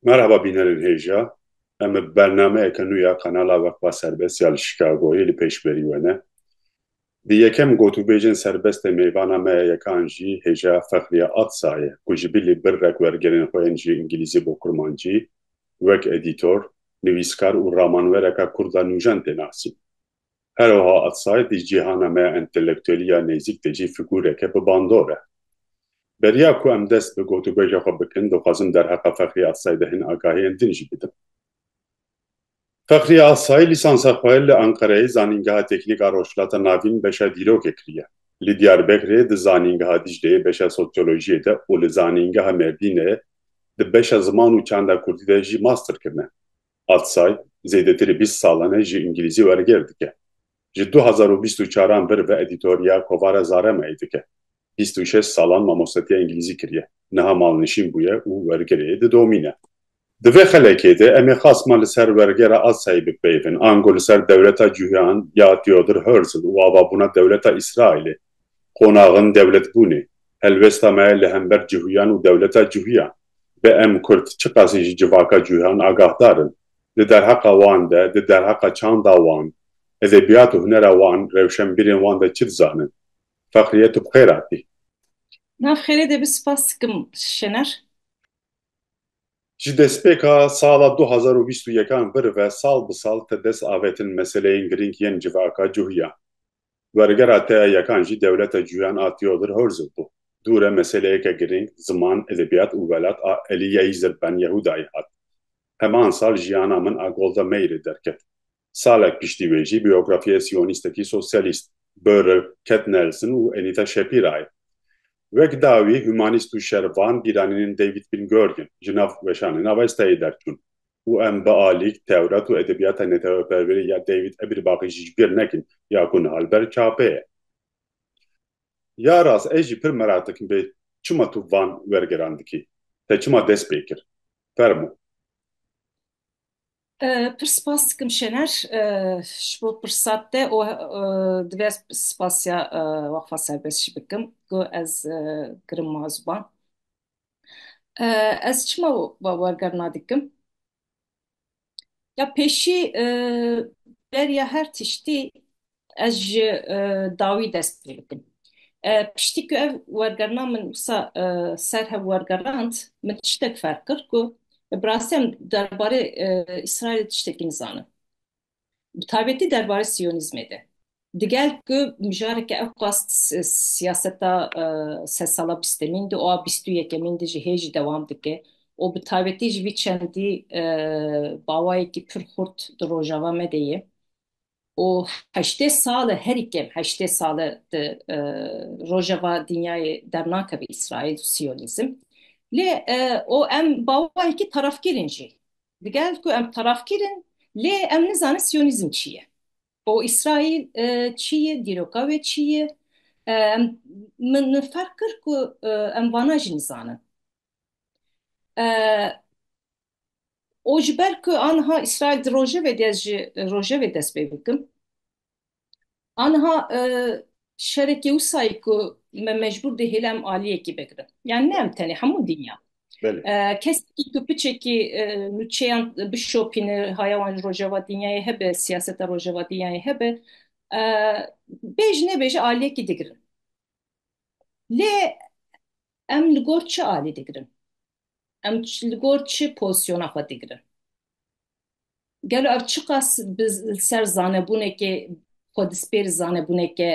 Merhaba bînerên hêja. Em bi bernameyeke nû ya kanala Weqfa Serbest ya li Chicagoyê li pêş berî we ne. Di yekem gotûbêjên serbest ê mêvana me yekan jî hêja Fexriye Atsa ye ku ji bilî birrek wergerên xwe yên ji îngilîzî bo kurmancî wek edîtor, nivîskar û ramanwereka kurd a nûjen tê nasîn. Her wiha Atsay di cîhana me ya entelektuelî ya nêzîk de jî fîgûreke bi bandor e. Beriya ku em dest bi gotûbêja xwe bikin, dixwazim derheqa Fexrî Atsay de hin agahiyên din jî bidim. Fexrî Atsay lîsansa xwe li Enqereyê Zanîngeha Teknîk a Rojhilata Navîn beşa Dîrokê kiriye. Li Diyarbekirê di Zanîngeha Dîcleyê beşa Sosyolojiyê de û li Zanîngeha Mêrdînê di beşa Ziman û Çanda Kurdî de jî master kirine. Atsay zêdetirî bîst salan e ji îngîlîzî wergêr dike. Ji du hezar û bîst û çar an vir bi edîtoriya Kovara Zarema'yê dike. Bîst û şeş salan mamostetiya îngîlîzî kiriye. Niha malnişîn bûye û wergirê didomîne. Di vê xelekê de em ê qasma li ser wergera Atsayê bipeyivin, ango li ser dewleta Cûhean ya Theodor Herzl û avabûna dewleta Îsraîlê Qonaxin dewletbûnê, helwesta me li hember cihûyan û dewleta cihûyan be. Em Kurd çiqasî ji civaka cihûyan agahdar in. Di derheqa wan de, di derheqa çanda wan, edebiyat û hunera wan, rewşenbîrên wan de çi dizanin? Fexriye tu bi xêr hatî. Nav xêrê de bi sipas dikim Şener. Ji destpêka sala du hezar û bîst û yekan vir ve sal bi sal te dest avetin meseleyên girîng yên civaka cihûyan. Wergera te ya yekan jî dewleta cuyan a Theodor Herzl bû. Dû re meseleyeke girîng, ziman, edebiyat û welat a Eliya Yîzir Ben Yehûdayî hat. Heman sal Jiyana Min a Golda Meirê derket. Salek piştî wê jî biyografiyê siyonîstekî sosyalîst, Börl, Ket Nelson û Enita Shapirayê. Wek dawî humanîst û şervan bîranînên David Bin Gurion ji nav weşanên Avestayê derçûn. û em bi alîk Tewrat û edebiyata netewperwerî ya David Ebirbaxî jî ji bîr nekin ya ku niha li ber çapê ye. Ya rast ez jî pir merak dikim bê çima tu van wergeran dikî? Te çima dest pê kir? Fermo. Pir spas dikim Şener ji bo pirsa te û divê ez spasiya Weqfa Serbest jî bikim ku ez kirim ma ziwan. Ez çima we wergerna dikim? Ya pêşî e, beriya her tiştî ez ji e, dawî dest pê bikim. E, Piştî ku ev wergerna min wisa e, ser hev wergerand, min tiştek ferq kir ku bi rastî em derbarê e, Îsraîlê tiştekî nizanim. bi taybetî derbarê siyonîzmê de. Digel ku mijareke ew qas siyaseta sed sala bîstemîn di û a bîst û yekemîn de jî hê jî dewam dike û bi taybetî ji vî çendî bawayekî pir xurt di rojava me de ye û heştê sal e herî kêm heştê sal e di rojeva dinyayê dernakeve Îsraîl û siyonîzm lê o em bawayekî tarafkirîn jî Digel ku em tarafgîr in lê em nizanin siyonîzm çi ye û Îsraîl çi ye, dîroka wê çi ye. Em min ferq kir ku em vana jî nizanin. Û ji ber ku aniha Îsraîl di rojevê de ez ji rojevê dest pê bikim. Aniha şerekê wisayî ku me mecbûr dê hêle em aliyekî bigirin. Yani ne em tenê hemû dinya. Kesekî ku piçekî nûçeyan bişopîne haya wan ji rojeva dinyayê hebe, siyaseta rojeva dinyayê hebe bêj nebêje aliyekî digirin. Lê em li gor çi alî digirin? Em li gor çi pozisyona xwe digirin? Gelo ev çiqas bi ser zanebûnekê xwe dispêr zanebûneke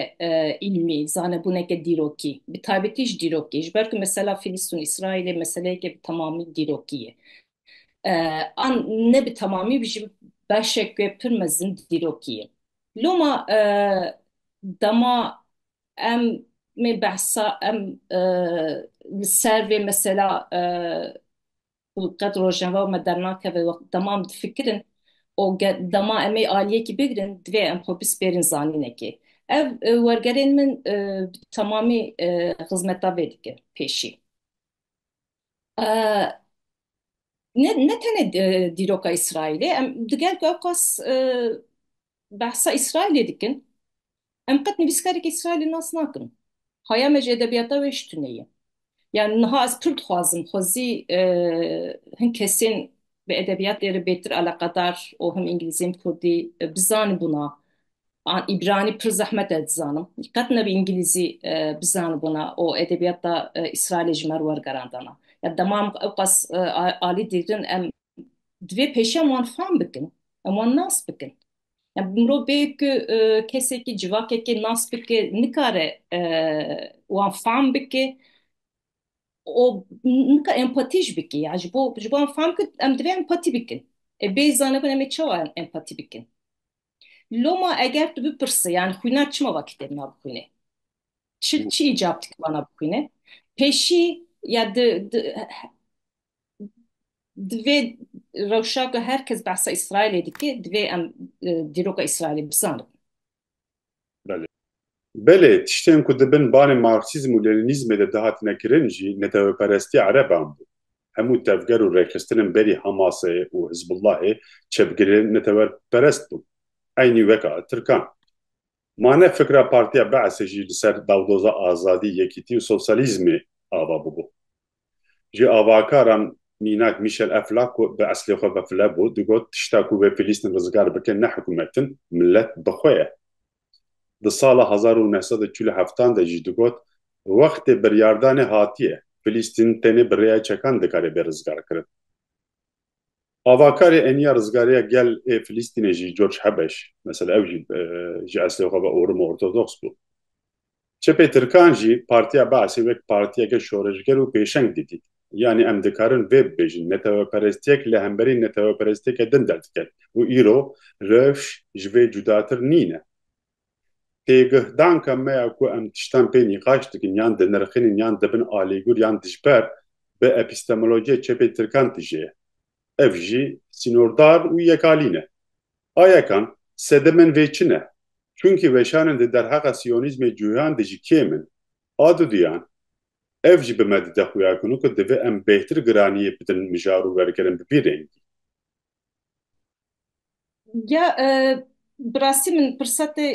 îlmî, zanebûneke dîrokî, bi taybetî ji dîrokî, ji ber ku mesela Filîstin û Îsraîlê meseleyeke bi temamî dîrokî ye. An ne bi temamî ji beşeke pir mezin dîrokî ye. Loma dema Em mê behsa em e, li ser vê mesela e, û qet rojeva me dernakeve wext demam difikirin û ge dema em ê aliyekî bigirin divê em xwe bispêrin zanînekê. Ev e, wergerên min e, bi temamî e, xizmeta vê dike pêşî. Ee, ne, ne tenê e, dîroka Îsraîlê, em di gel ku ew qas e, behsa Îsraîlê dikin, em qet nivîskarekî Îsraîlê nas nakin. Haya me ji edebiyata wê ji tunê ye. Yani niha ez pir dixwazim xwezî e, hin kesên bi edebiyatê re bêtir eleqedar û him îngilîzî him kurdî bizanibûna. An îbranî pir zehmet e dizanim. Qet ne bi îngilîzî bizanibûna û edebiyata Îsraîlê ji me re wergerandana. Ya dema em ewqas alî digrin em divê pêşî em wan fam bikin, em wan nas bikin. Ya bi mirov bê ku kesekî, civakekê nas bike nikare wan fam bike O nika empatî jî bike ya ji bo ji bo em fam kir em divê empatî bikin. E bê zanibin em ê çawa empatî bikin? Loma eger tu bipirse yani xwînar çima va kitêb na bixwîne? Çi çi îcab dike vana bixwîne? Pêşî ya di di divê rewşa ku her kes behsa Îsraîlê dike divê em dîroka Îsraîlê bizanin. Belê. Belê, tiştên ku di bin banê marksîzm û leninîzmê de dihatine kirin jî neteweperestiya ereban bû. Hemû tevger û rêxistinên berî Hamasê û Hizbullahê çepgirên netewerperest bûn. Eynî weka tirkan. Ma ne fikra Partiya Be'esê jî li ser dawdoza azadî, yekîtî û sosyalîzmê ava bûbû. Ji avakaran mînak Mîşel Eflak ku bi eslê xwe vefle bû digot, Tişta ku wê Filîstîn rizgar bike ne hikûmet in, milet bi xwe ye. Di sala hezar û neh sed û çil û heftan de jî digot, Wextê biryardanê hatiye. Filîstîn tenê bi rêya çekan dikare bê rizgarkirin. Avakarê eniya rizgariya gel ê Filistînê jî George Hebeş mesela ew jî ji eslê xwe ve orim û ortodoks bû. Çepê tirkan jî Partiya Be'sê wek partiyeke şoreşger û pêşeng didît. Yanî em dikarin vê bibêjin, neteweperestiyek li hemberî neteweperestiyeke din derdikeve û îro rewş ji vê cudatir nîne. têgihdanka me ya ku em tiştan pê nîqaş dikin yan dinirxînin yan dibin alîgur yan dijber bi epîstemolojiyê çepê tirkan tije ye. Ev jî sînordar û yekalîn e. A yekan, sedê min vê çi ne. Çunkî weşanên di derheqa sîyonîzmê cûyan de jî kêm in. A duduyan, ev jî bi me dide xuya ku divê em bêhtir giraniyê bidin mijar û wergerin bi vî rengî. Ya bi rastî min pirsetê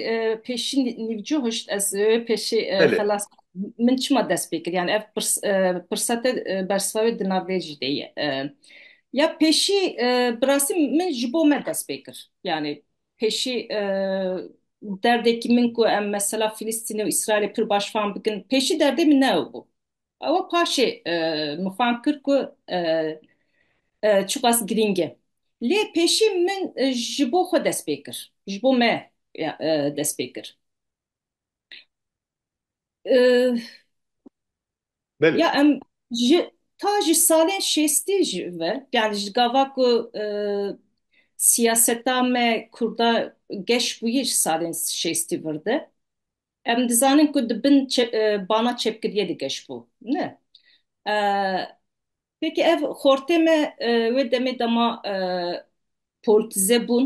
pêşî nîvcoh hişt ez pêşê Belê. xelas min çima dest pê kir yani ev pirs- pirsete bersiva wê di nav vê jî de ye. Ya pêşî bi rastî min ji bo me dest pê kir yani pêşî derdekî min ku em mesela Filistîne û Îsraîlê pir baş fam bikin pêşî derdê min ne ew bû. Ewa paşê e, min fam kir ku e, e, çiqas girîng e. Lê pêşî min e, ji bo xwe dest pê kir. Ji bo me e, e, dest pê kir. E, Belê. ya em ji ta ji salên şêstî ji ve yani ji gava ku e, siyaseta me Kurda geş bûye ji salên şêstî vir de. Em dizanin ku di bin bana çepkiriyê digeşbû. Ne. Pêkî ev xortê me wê demê de ma polîtize bûn,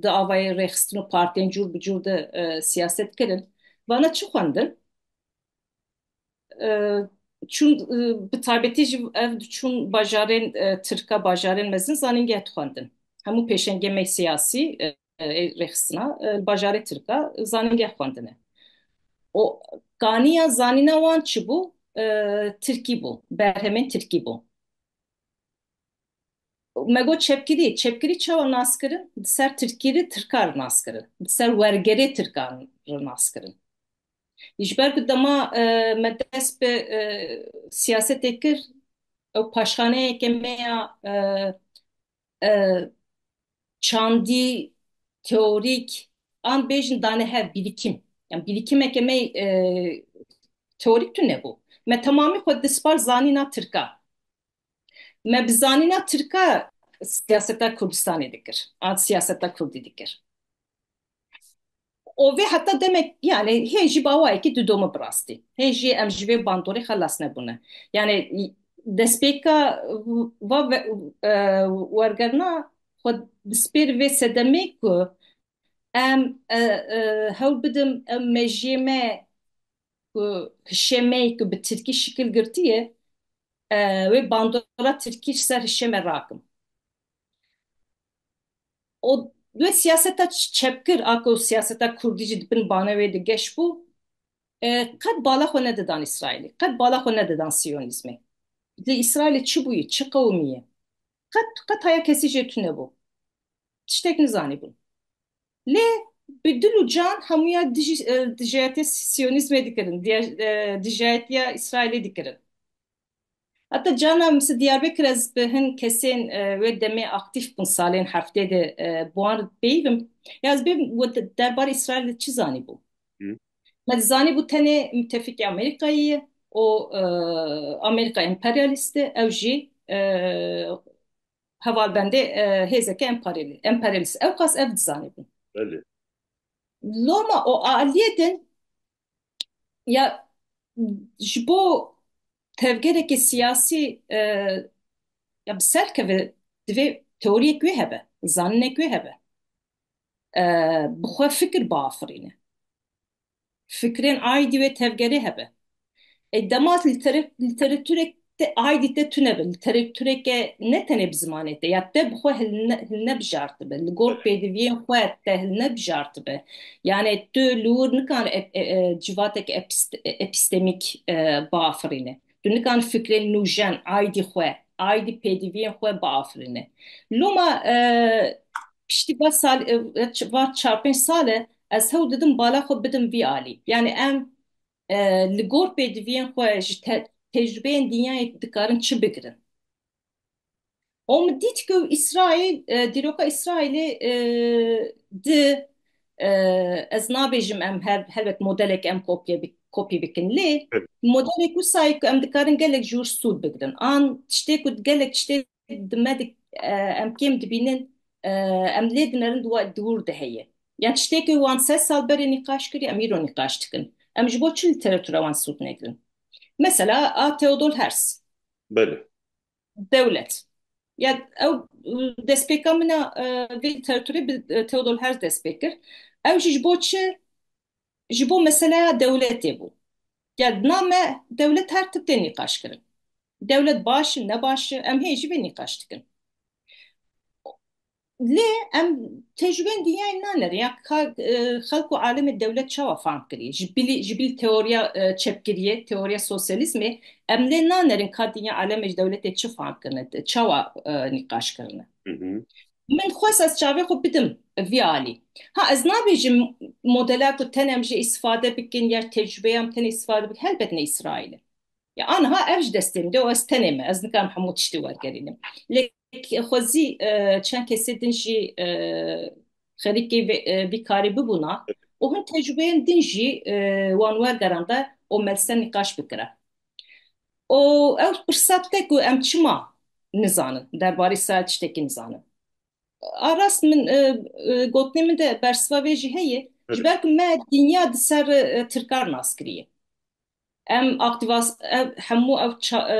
di avayê rêxistin û partiyên cûr bi cûr de siyaset kirin. Vana çi xwendin? Çûn bi taybetî jî ev diçûn bajarên tirka, bajarên mezin zanîngeh dixwendin. Hemû pêşengê me siyasî, ê rêxistina li bajarê Tirka zanîngeh xwendine û kaniya zanîna wan çi bû? Tirkî bû, berhemên Tirkî bû. Me got çepkirî, çepkirî çawa nas kirin? Di ser Tirkî re Tirka re nas kirin, di ser wergerê Tirkan re nas kirin. Ji ber ku dema me dest bi siyasetê kir, ew paşxaneyeke me ya çandî teorîk an bêjin dane hev bîrîkim yan bîrîkimeke me teorîk tune bû me temamî xwe dispar zanîna tirka me bi zanîna tirka siyaseta Kurdistanê dikir an siyaseta Kurdî dikir û vê heta demek yanê hê jî bawayekî didome bi rastî. Hê jî em ji vê bandorê xelas nebûne. Yanê destpêka va wergerna xwe bi spêr vê sedemê ku em hewl bidim ew mejiyê me ku hişê me yê ku bi tirkî şikil girtî ye wê bandora tirkî ji ser hişê me rakim. û wê siyaseta çepgir a ku siyaseta kurdî jî di bin bana wê de geş bû qet bala xwe nedidan Îsraîlê, qet bala xwe nedidan siyonîzmê. Lê Îsraîlê çi bûyî, çi qewimî ye? Qet qet haya kesî jê tunebû. Tiştek nizanîbûn. Lê bi dil û can hemûya dijî dijayetiya siyonîzmê dikirin, dijayetiya Îsraîlê dikirin. Heta cana min Diyarbekir ez bi hin kesên wê demê aktîf bûn salên heftê de bi wan re peyivim. Ya ez bêbim we derbarê Îsraîl de çi zanîbû? Me dizanîbû tenê mitefikê Amerîkayê ye û Amerîka emperyalîst e ew jî hevalbendê hêzeke emperyalîst e. Ewqas ev dizanîbûn. Loma o aliyê din ya ji bo tevgerekî siyasî e, ya bi ser keve divê teoriyek wê hebe, zaninek wê hebe. E, bi xwe fikir biafirîne. Fikrên aîdî wê tevgerê hebe. E, dema literatûrek Te aydî te tune be li terê tureke ne tenê bi zimanê te ya te bi xwe hilnebjartibe, li gor pêdiviyên xwe te hilnebjartibe. Yanê tu li wir nikan civatek epistemîk biafirîne. Tu nikan fikrên nûjen aydî xwe, aydî pêdiviyên xwe biafirîne. Loma piştî va sal va çar pênc sal e ez hewl didim bala xwe bidim vî alî. Yanê em Li gor pêdiviyên xwe ji te, tecrübeyên dinyayê dikarin çi bigirin? Om dît ku İsrail, e, dîroka İsrailê e, di e, ez nabêjim em her helbet modelek em kopye bi- kopî bikin lê Evet. modelek wisa ye ku em dikarin gelek jûr sûd bigirin an tiştê ku gelek tiştê di me di em kêm dibînin em lê dinerin di we dûr de heye. Yan tiştêkê wan sed sal berê nîqaş kirî em îro nîqaş dikin. Em ji bo çi lîteratura wan sûd negirin? Mesela a Theodol Herz. Belê. Dewlet. Ya ew destpêka min a vê lîteraturê bi Theodol Herz destpê kir. Ew jî ji bo çi ji bo meseleya dewletê bû. Gel dina me dewlet her tim tê nîqaşkirin. Dewlet baş in, ne baş in, em hê jî vê nîqaş dikin. Lê em tecrûbeyên dinyayê nanerin ya ka xelk û alemê dewlet çawa fahm kirî. Ji bilî ji bilî teoriya çepkiriyê, teoriya sosyalîzmê em lê nanerin ka dinya alemê ji dewletê çi fahm kirine, çawa nîqaş kirine. Min xwest ez çavê xwe bidim vî alî. Ha ez nabêjim modela ku tenê em jê îstîfade bikin ya tecrûbeya em tenê îstîfade bikin helbet ne Îsraîl e. Ya aniha ev ji destê min de û ez tenê me. Ez nikarim hemû tiştê wergerînim. Lê xwezî çend kesê din jî xerîkê vî karê bibûna û hin tecrûbeyên din jî wan wergeranda û me li ser nîqaş bikira. û ew pirsa dike ku em çima nizanin, derbarê Sahel tiştekî nizanin. A rast min e, e, gotinê min de bersiva vê jî heye, ji ber ku me dinya di ser e, tirkar nas kiriye. Em aktivas, ev, hemû ev ça, e,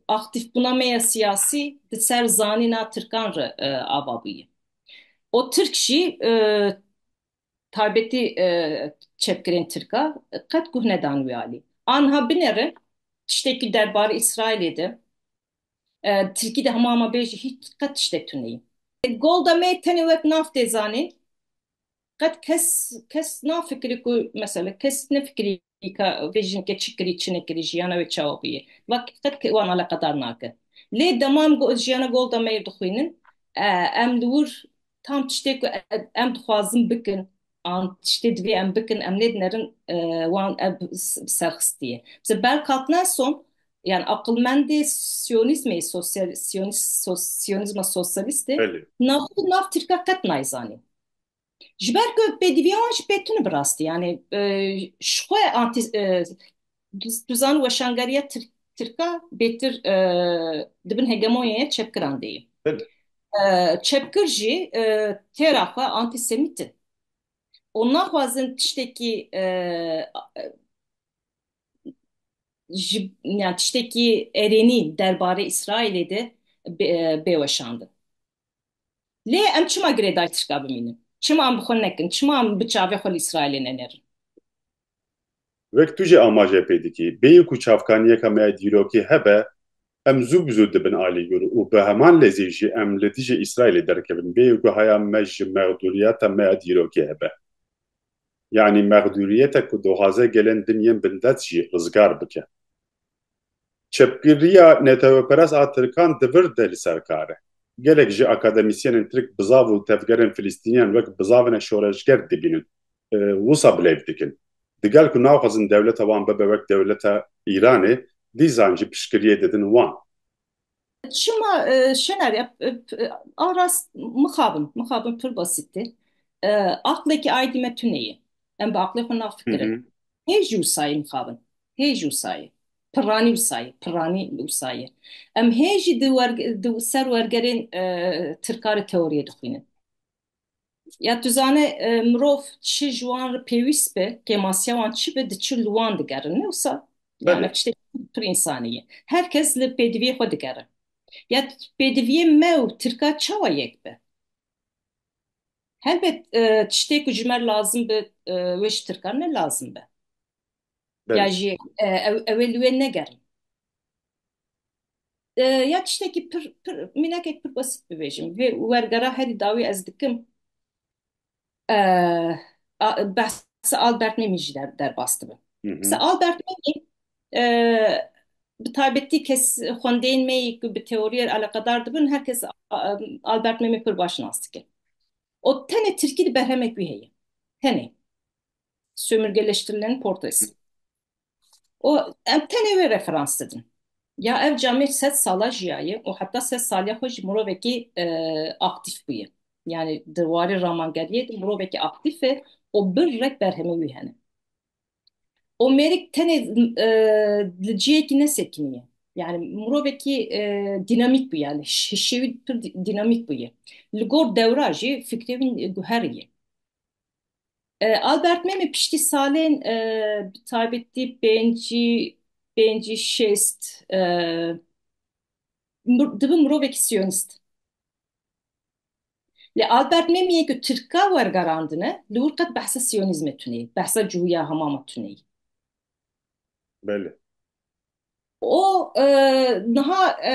aktifbûna me ya siyasî di ser zanîna tirkan re e, ava bûye. O tirk jî e, taybetî çepkirên tirk a qet guh nedan wî alî. A niha binêrin tiştekî derbarê Îsraîlê de tirkî de hema hema bê jî hîç qet tiştek tuneyî. Golda Meir tenê wek nav tê zanîn. Qet kes kes nafikirî ku mesela kes nefikirî Îka vê jinekê çi kirî çi nekirî jiyana wê çawa bûye vak qet ke wan aleqedar nake. Lê dema em got jiyana Golda Meir dixwînin em li wir tam tiştê ku em dixwazin bikin an tiştê divê em bikin em nêdinerin wan ev bi ser xistiye. Mesela Berl Katnelson yan aqilmendê siyonîzmê sosyal siyonîz siyonîzma sosyalîstê Belê. nav xwe nav tirka qet nayzanî. Ji ber ku pêdivîya wan jî pê tune bi rastî yanê ji xwe antî tu zan weşangeriya tirka bêtir di bin hegemonyaya çepkiran de ye. Çepkir jî têra xwe antîsemît in û naxwazin tiştekî ji tiştekî erênî derbarê Îsraîlê de bê weşandin. Lê em çima girêdayî tirka bimînin? Çima em bi xwe nekin? Çima em bi çavê xwe li Îsraîlê nenêrin? Wek tu jî amaje pê dikî, bêyî ku çavkaniyeka me ya dîrokî hebe, em zû bi zû dibin alîgir û bi heman lezî jî em li dijî Îsraîlê derkevin, bêyî ku haya me ji mexdûriyeta me ya dîrokî hebe. Yanî mexdûriyete ku dixwaze gelên din yên bindest jî rizgar bike. Çepgiriya neteweperest a Tirkan di vir de li ser kar e. Gelek ji akademisyenên Tirk bizav û tevgerên Filistîniyan wek bizavinek şoreşger dibînin û wisa bilêv dikin. Digel ku naxwazin dewleta wan bibe wek dewleta Îranê, dîzan jî piştgiriyê didin wan. Çima e, Şener ya e, e, a rast mixabin, mixabin pir basîtî. E, Aqlekî aydî me tune ye. Em bi aqlê xwe Hı nafikirin. hı. Hê jî wisa mixabin. Hê jî wisa ye. Pirranî wisa ye. Pirranî wisa ye. Em hê jî di, wer, di ser wergerên e, tirkarê teoriyê dixwînin. Ya tu zane mirov çi ji wan re pêwîst be, kêmasiya wan çi be, diçin li wan digerin. Ne wisa? Yani Belê. ev tiştekî pir însanî ye. Her kes li pêdiviyê xwe digere. Ya pêdiviyê me û tirka çawa yek be? Helbet e, tiştê ku ji me re lazim be e, wê ji tirkan ne lazim be. Belê. Ya jî e, ew, ew ê li wê negerin. Ya tiştekî pir pir mînakek pir besît bibêjim. Vê wergera herî dawî ez dikim behsa Albert Mêmî jî derbas dibim. Mesela Albert Mêmî bi taybetî kes xwendeyên me yê ku bi teoriyê eleqedar dibin her kes Albert Mêmî pir baş nas dike. Û tenê tirkî di berhemek wî heye. Tenê. Sömürgeleştirilen portres. û em tenê wê referans didin. Ya ev camê sed sala jiyaye û heta sed saliya xwe jî mirovekî aktîf bûye. Yanî di warê ramangeriyê de mirovekî aktîf e û bir rek berhemê wî hene. Û mêrik tenê li ciyekî ne sekinî ye. Yanî mirovekî dînamîk bûye, hişê wî pir dînamîk bûye. Li gor dewra jî fikrê wî guherî ye. E, Albert Memî piştî salên e, bi taybetî pêncî pêncî şêst e, mir- dibi mirovekî siyonîst. Lê Albert Memîyê ku Tirka wergerandine li wir qet behsa siyonîzmê tuneyî, behsa cihûya hemama tuneyî. Belê. O e, niha e,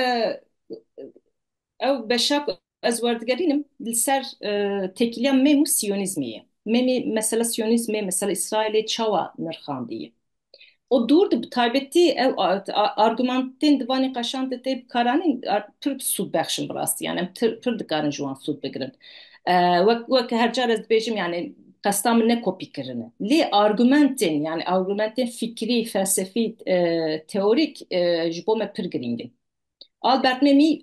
ew beşa ku Ez werdigerînim li ser têkiliya mem û siyonîzmê ye. Memê mesela siyonîzmê, mesela Îsraîlê çawa nirxandiye? O dûr di bi taybetî ew argumentên di van nîqaşan de tê bikaranîn pir sûdbexş in bi rastî yan em pir dikarin ji wan sûd bigirin. Wek wek her car ez dibêjim yanê qesta min ne kopîkirin e. Lê argumentên yanê argumentên fikrî, felsefî, teorîk ji bo me pir girîng in. Albert Memî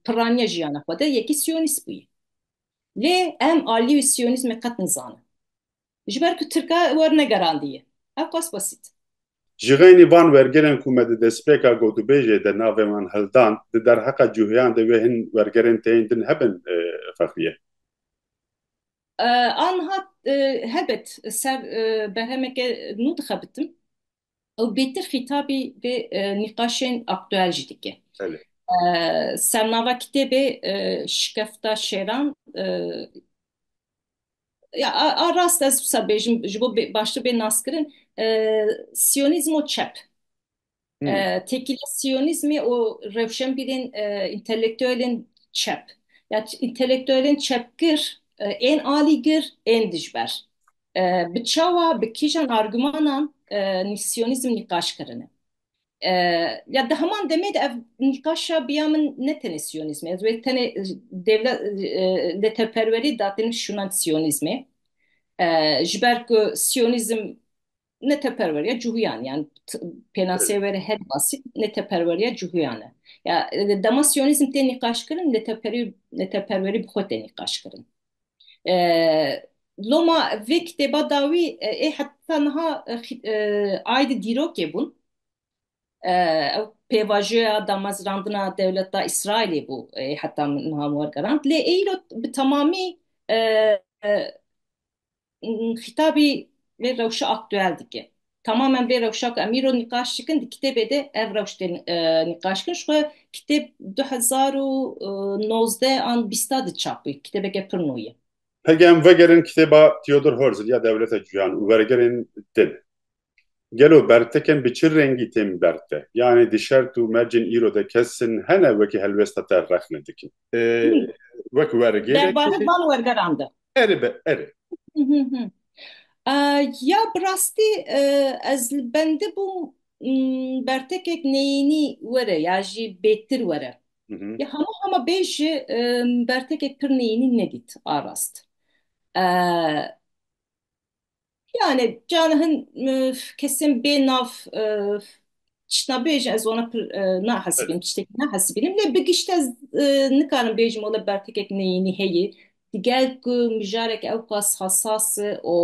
pirraniye jiyana xwe de yekî siyonîst bûye. Lê em aliyê wî siyonîzmê qet nizanin. Ji ber ku tirka werne gerandiye. Ewqas besît. Ji xeynî van wergerên ku me di destpêka gotûbêjê de navê wan hildan, di derheqa cûheyan de wê hin wergerên tê yên din hebin Fexriye. Aniha hebet ser berhemeke nû dixebitim. Ew bêtir xîtabî vê nîqaşên aktuel jî dike. Sernava kitêbê Şikefta Şêran ya a rast ez wisa bêjim ji bo baştir bê naskirin siyonîzm û çep têkiliya siyonîzmê û rewşenbîrên întelektuelên çep ya întelektuelên çepgir ên alîgir ên dijber Bi çawa, bi kîjan argümanan nîsyonîzm nîqaş kirine? Ya di heman demê de ev nîqaşa bi ya min ne tenê siyonîzmê, ez wê tenê dewle lêteperwerî datînim şûnand siyonîzmê. Ji ber ku siyonîzm lêteperweriya cihûyan e, yan pênaseyê were herî basît lêteperweriya cihûyan e. Ya dema siyonîzm tê nîqaşkirin lêteperwerî bi xwe tê nîqaşkirin. Loma vê kitêba dawî ê heta niha aydê dîrokê bûn. Ew pêvajoya damezrandina dewleta Îsraîlê bû ê heta niha wergerand. Lê ê îro bi temamî Xîtabî vê rewşa aktuel dike. Tamamen vê rewşa ku em îro nîqaş dikin di kitêbê de ev rewş tê nîqaş kirin. Ji xwe kitêb du hezar û nozdeh an bîst a de çap bûye. Kitêbeke pir nû ye. Pege em vegerin kitêba Theodor Herzl ya Dewleta Cîhan û Wergerên Din. Gelo berteken bi çi rengî tên berte? Yanî di şert û mercên îro de kesin hene wekî helwesta te rexne dikin? Wek wergêrek. Derbarê van wergeran de. Erê be, erê. Ya bi rastî ez li bendi bûm bertekek neyênî were ya jî bêtir were. Ya hema hema bê jî bertekek pir neyênî nedît a rast. Yani can hin e, kesin bê nav e, tiştna bêjin ez wana pir e, nahesibînim tiştekî nahesibînim lê bi gişt ez e, nikarim bêjim wala bertekek neyînî heye digel ku mijarek ewqas hassas e û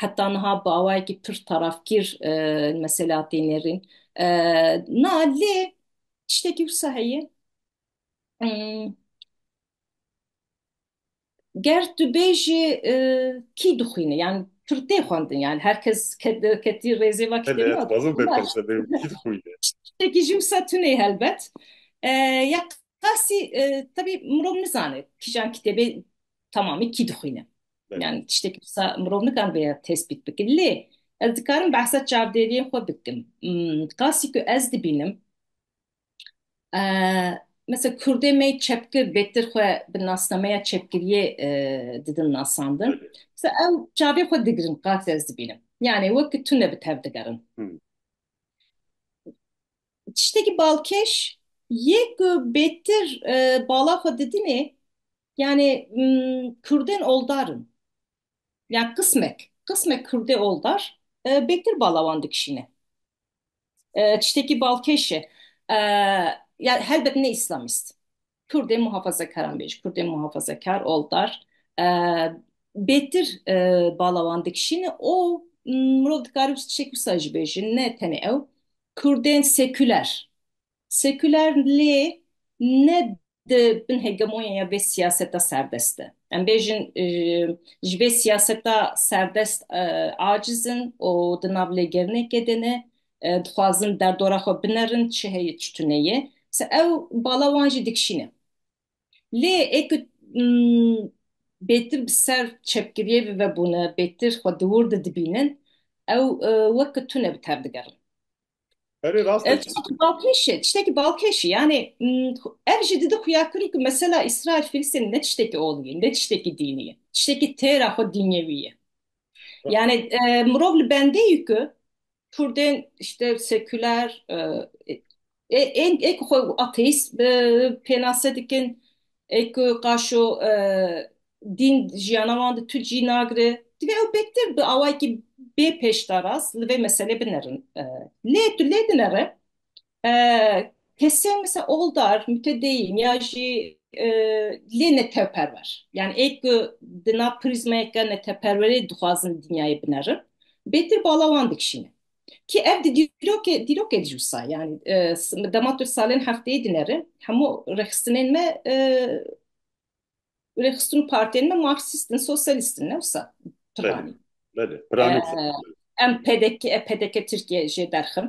heta niha bi awayekî pir tarafgîr e, li meselê hatê nêrîn. E, na lê tiştekî wisa heye. Hmm, ger tu bêjî e, kî dixwîne yan tu li tê xwendin yan her kes ke- ketî rêzê ve kitêb Hele ez nat xwazim bê pirse bê kî dixwîne. tiştekî jî wisa tune helbet E, ya qasî e, tebî mirov nizane kîjan kitêbê temamî kî dixwîne Belê. yani tiştekî wisa mirov nikan bê tespît bikin lê ez dikarim behsa çavdêriyên xwe bikim Hmm, qasî ku ez dibînim Mesela Kurdê me çepkir bêtir xwe bi nasnameya çepkiriyê e, didin nasandin. Mesela ew çavê xwe digirin qas ez dibînim. Yani wek tune bi tev digerin. Hmm. Tiştekî balkêş yê ku bêtir e, bala xwe didinê yani mm, Kurdên oldarin. Yani qismek. Qismek Kurdê oldar e, bêtir bala wan dikişîne. Tiştekî balkêş e. Ya helbet ne îslamîst. Kurdê muhafazekaran bêj, Kurdê muhafazekar, oldar bêtir bala wan dikişîne û mirov dikare wisa tiştekî wisa jî bêje ne tenê ew. Kurdên sekûler Sekûler lê ne di bin hegemonyeya vê siyaseta serdest de. Em bêjin ji vê siyaseta serdest aciz in û di nav lêgerinekê de ne, dixwazin derdora xwe binerin çi heye çi tune ye. Ew bala wan jî dikişîne. Lê ê ku bêtir bi ser çepgiriyê ve vebûne, bêtir xwe di wir de dibînin, ew weke tune bi tev digerin. Erê rast e. Balkêşi, tiştekî balkêşi. Yani ev jî didi xuya kurî ku mesela İsrail Filistin ne tiştekî olî ye, ne tiştekî dînî ye. Tiştekî têra xwe dînyewî ye. Yani mirov li bendê yî ku Kurdên işte seküler ên ê ku xwe ateîst pênase dikin, ê ku qaşo dîn jiyana wan di tu cî nagire. Divê ew pêktir bi awayekî bê pêşdaras li vê meselê binerin. Lê tu lê dinere kesên mesela oldar, mütedeyyin ya jî lê neteperwer. Yani ê ku di nav prîzmayeke neteperwerê dixwazin dinyayê binerin bêtir bala wan dikişîne. Ki ev di dîrokê dîrokê di jî wisa ye. Yani dema tu salên hefteyê dinere hemû rêxistinên me Û rêxistin û partiyên me marksîst in, sosyalîst in, ne wisa piranî. Belê, piranî. Em PDK, PDK Tirkiye jê derxin.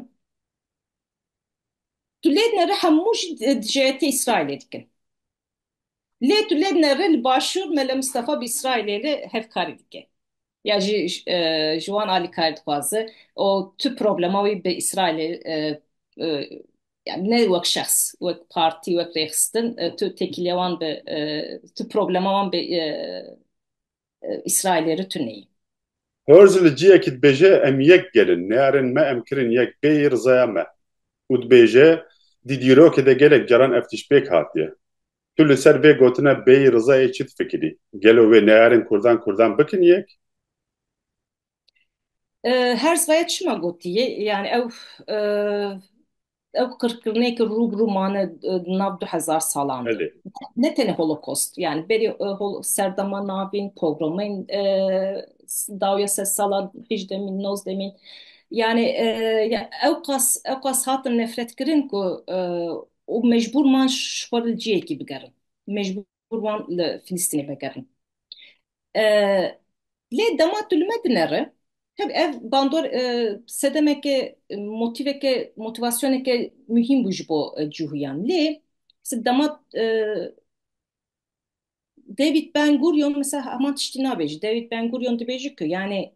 Tu lê dinere hemû jî dijeyetê Îsraîlê dikin. Lê tu lê dinere li başûr Mele Mistefa bi Îsraîlê re hevkarî dike. Ya jî ji wan alîkarî dixwaze û tu problema wî bi Îsraîlê yani ne wek şexs, wek partî, wek rêxistin tu têkiliya wan bi tu problema wan bi Îsraîlê re tu neyî. Herz li ciyekî dibêje em yek gel in, nêerin me em kirin yek bêyî rizaya me û dibêje di dîrokê de gelek caran ev tişt pêk hatiye. Tu li ser vê gotina bêyî rizayê çi difikirî? Gelo wê nêerin kurdan kurdan bikin yek? Her zaya çima gotiye yani ew ew qirkirinê ki rû bi rû mane nav du hezar salan de. Belê. Ne tenê holokost yani berê e, hol- serdema navîn, pogromên e, dawya sed sala hîjdemîn, nozdemîn yani e, ya ew qas ew qas hatin nefret kirin ku e, û mecbûr man ji xwe li cihekî bigerin. Mecbûr Kur wan li Filistînê vegerin. Lê dema tu li me dinere, tab ev bandor sedemeke motîveke motivasyoneke muhîm bû ji bo cihûyan. Lê dema David Ben Gurion mesela heman tiştî nabêje. David Ben Gurion dibêje ku yanê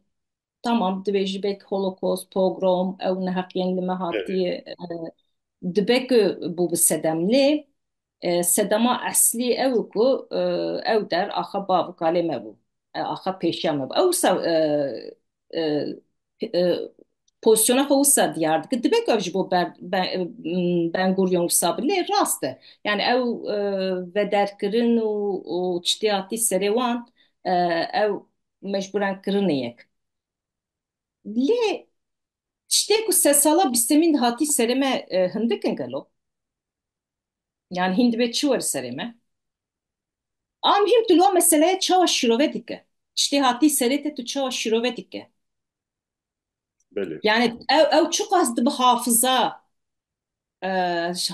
Tamam dibe ji bek holokost, pogrom ew neheqiyên li me Tevî. hatiye dibe ku bû bi sedem lê e, sedema eslî ew e ku e, ew der axa bav û kalê me bû. E, axa pêşiya me bû. Ew wisa e, e, e, pozisyona xwe wisa diyar dike. Dibe ku ev ji bo ber, ben, m, Ben Gurion wisa bi lê rast e. Yani ew e, vederkirin û, û çitiya tî serê wan e, ew mecbûran kirine yek. Lê tiştê ku sed sala bîstemîn de hatî serê me hindik in gelo? Yan hîn dibe çi were serê me? A mihîm tu li wan meseleyê çawa şîrove dike? Tiştê hatî serê te tu çawa şîrove dike? Belê. Yanî ew ew çiqas dibe hafiza e,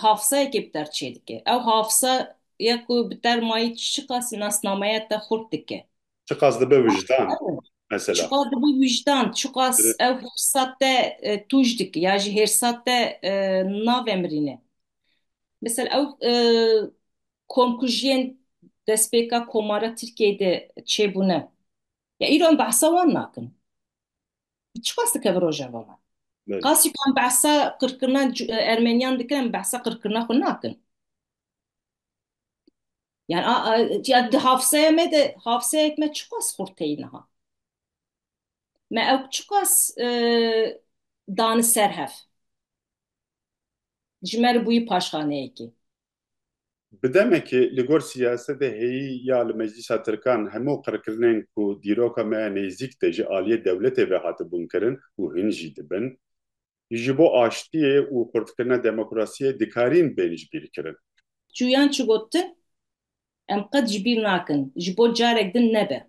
hafızayekê bi der çêdike. Ew hafızaya ku bi der mayî çiqas nasnameya te xurt dike. Çiqas dibe wijdan mesela. Çiqas dibe wijdan, çiqas ew hêrsa te e, tûj dike ya jî hêrsa te e, navemirîne. Mesela ew e, komkujiyên destpêka komara Tirkiyeyê de çêbûne. Ya îro em behsa wan nakin. Çiqas dike bi Rojava me? Belê. Qasî ku em behsa qirkirina cu- e, Ermeniyan dikin, em behsa qirkirina xwe nakin. Yani a, a, ya di hafızaya me de hafızayek me çiqas xurt teyî niha. Me ew çiqas e, dani ser hev. Ji me re bûyî paşxaneyekê. Bi demekê li gor siyasetê heyî ya li meclîsa tirkan hemû qirkirinên ku dîroka me ya nêzîk de ji aliyê dewletê ve hatibûn kirin û hin jî dibin, ji bo aştiyê û xurtkirina demokrasiyê dikarîn bên ji bîr kirin. Çûyan çi gotin em qet ji bîr nakin, ji bo carek din nebe.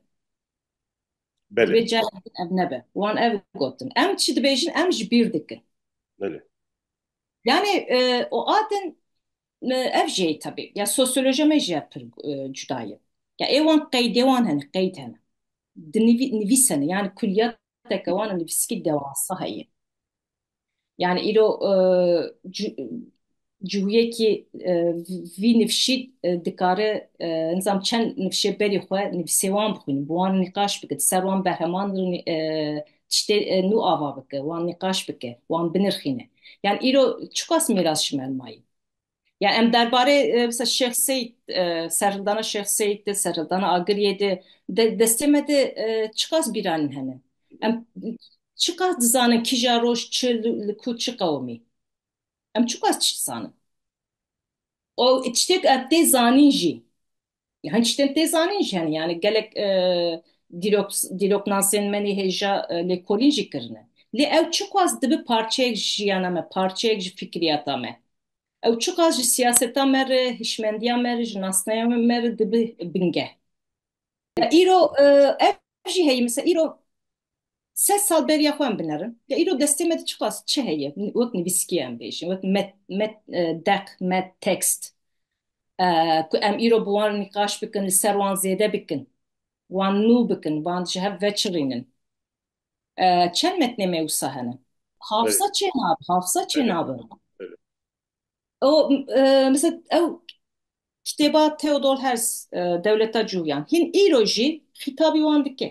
Belê. Divê carek din ev nebe. Wan ev gotin. Em çi dibêjin em ji bîr dikin. Belê. Yani e, o adin e, ev jê tabi. Ya sosyoloji me jê pir e, cudaye. Ya ewan qeydê wan hene, qeyd hene. Di nivî, nivîs hene. Yani kulliyateke wan nivîskî dewasa heye. Yani îro e, cu- cihuyekî e, vî nivşî e, dikare e, nizam çend nivşê berî xwe nivîsê wan bixwînin. Bi wan nîqaş bikin. Ser wan berheman e, tiştê nû ava bike, wan nîqaş bike, wan binirxîne. Yan îro çiqas mîras ji me mayî? Ya em derbarê misal Şêx Seyîd, serhildana Şêx Seyîd de, serhildana Agiriyê de, destê me de çiqas bîranîn hene? Em çiqas dizanin kîja roj çi li ku çi qewimî? Em çiqas tişt dizanin? Û tiştê ku em tê zanîn jî Yani tiştên tê zanîn jî hene yani gelek e, dîrok dîroknasên me nê hêja e, lêkolîn jî kirine. Lê ew çiqas dibi parçeyek ji jiyana me, parçeyek ji fikriyata me. Ew çiqas ji siyaseta me re, hişmendiya me re, ji nasneya me re dibi binge. Ya îro e, ev Ev jî heye misa îro sed sal beriya xwe em binerin. Ya îro destê me de çiqas çi heye? Wek nivîskî em bêjin, wek met, met, deq, met, tekst ku em îro bi wan nîqaş bikin, li ser wan zêde bikin, wan nû bikin, wan ji hev veçirînin. Çend metnê me wisa hene? Hafsa çê nabe, hafsa çê nabe. O e, mesela ew kitêba Theodor Herz e, Dewleta Cûyan hîn îro jî xîtabî wan dike.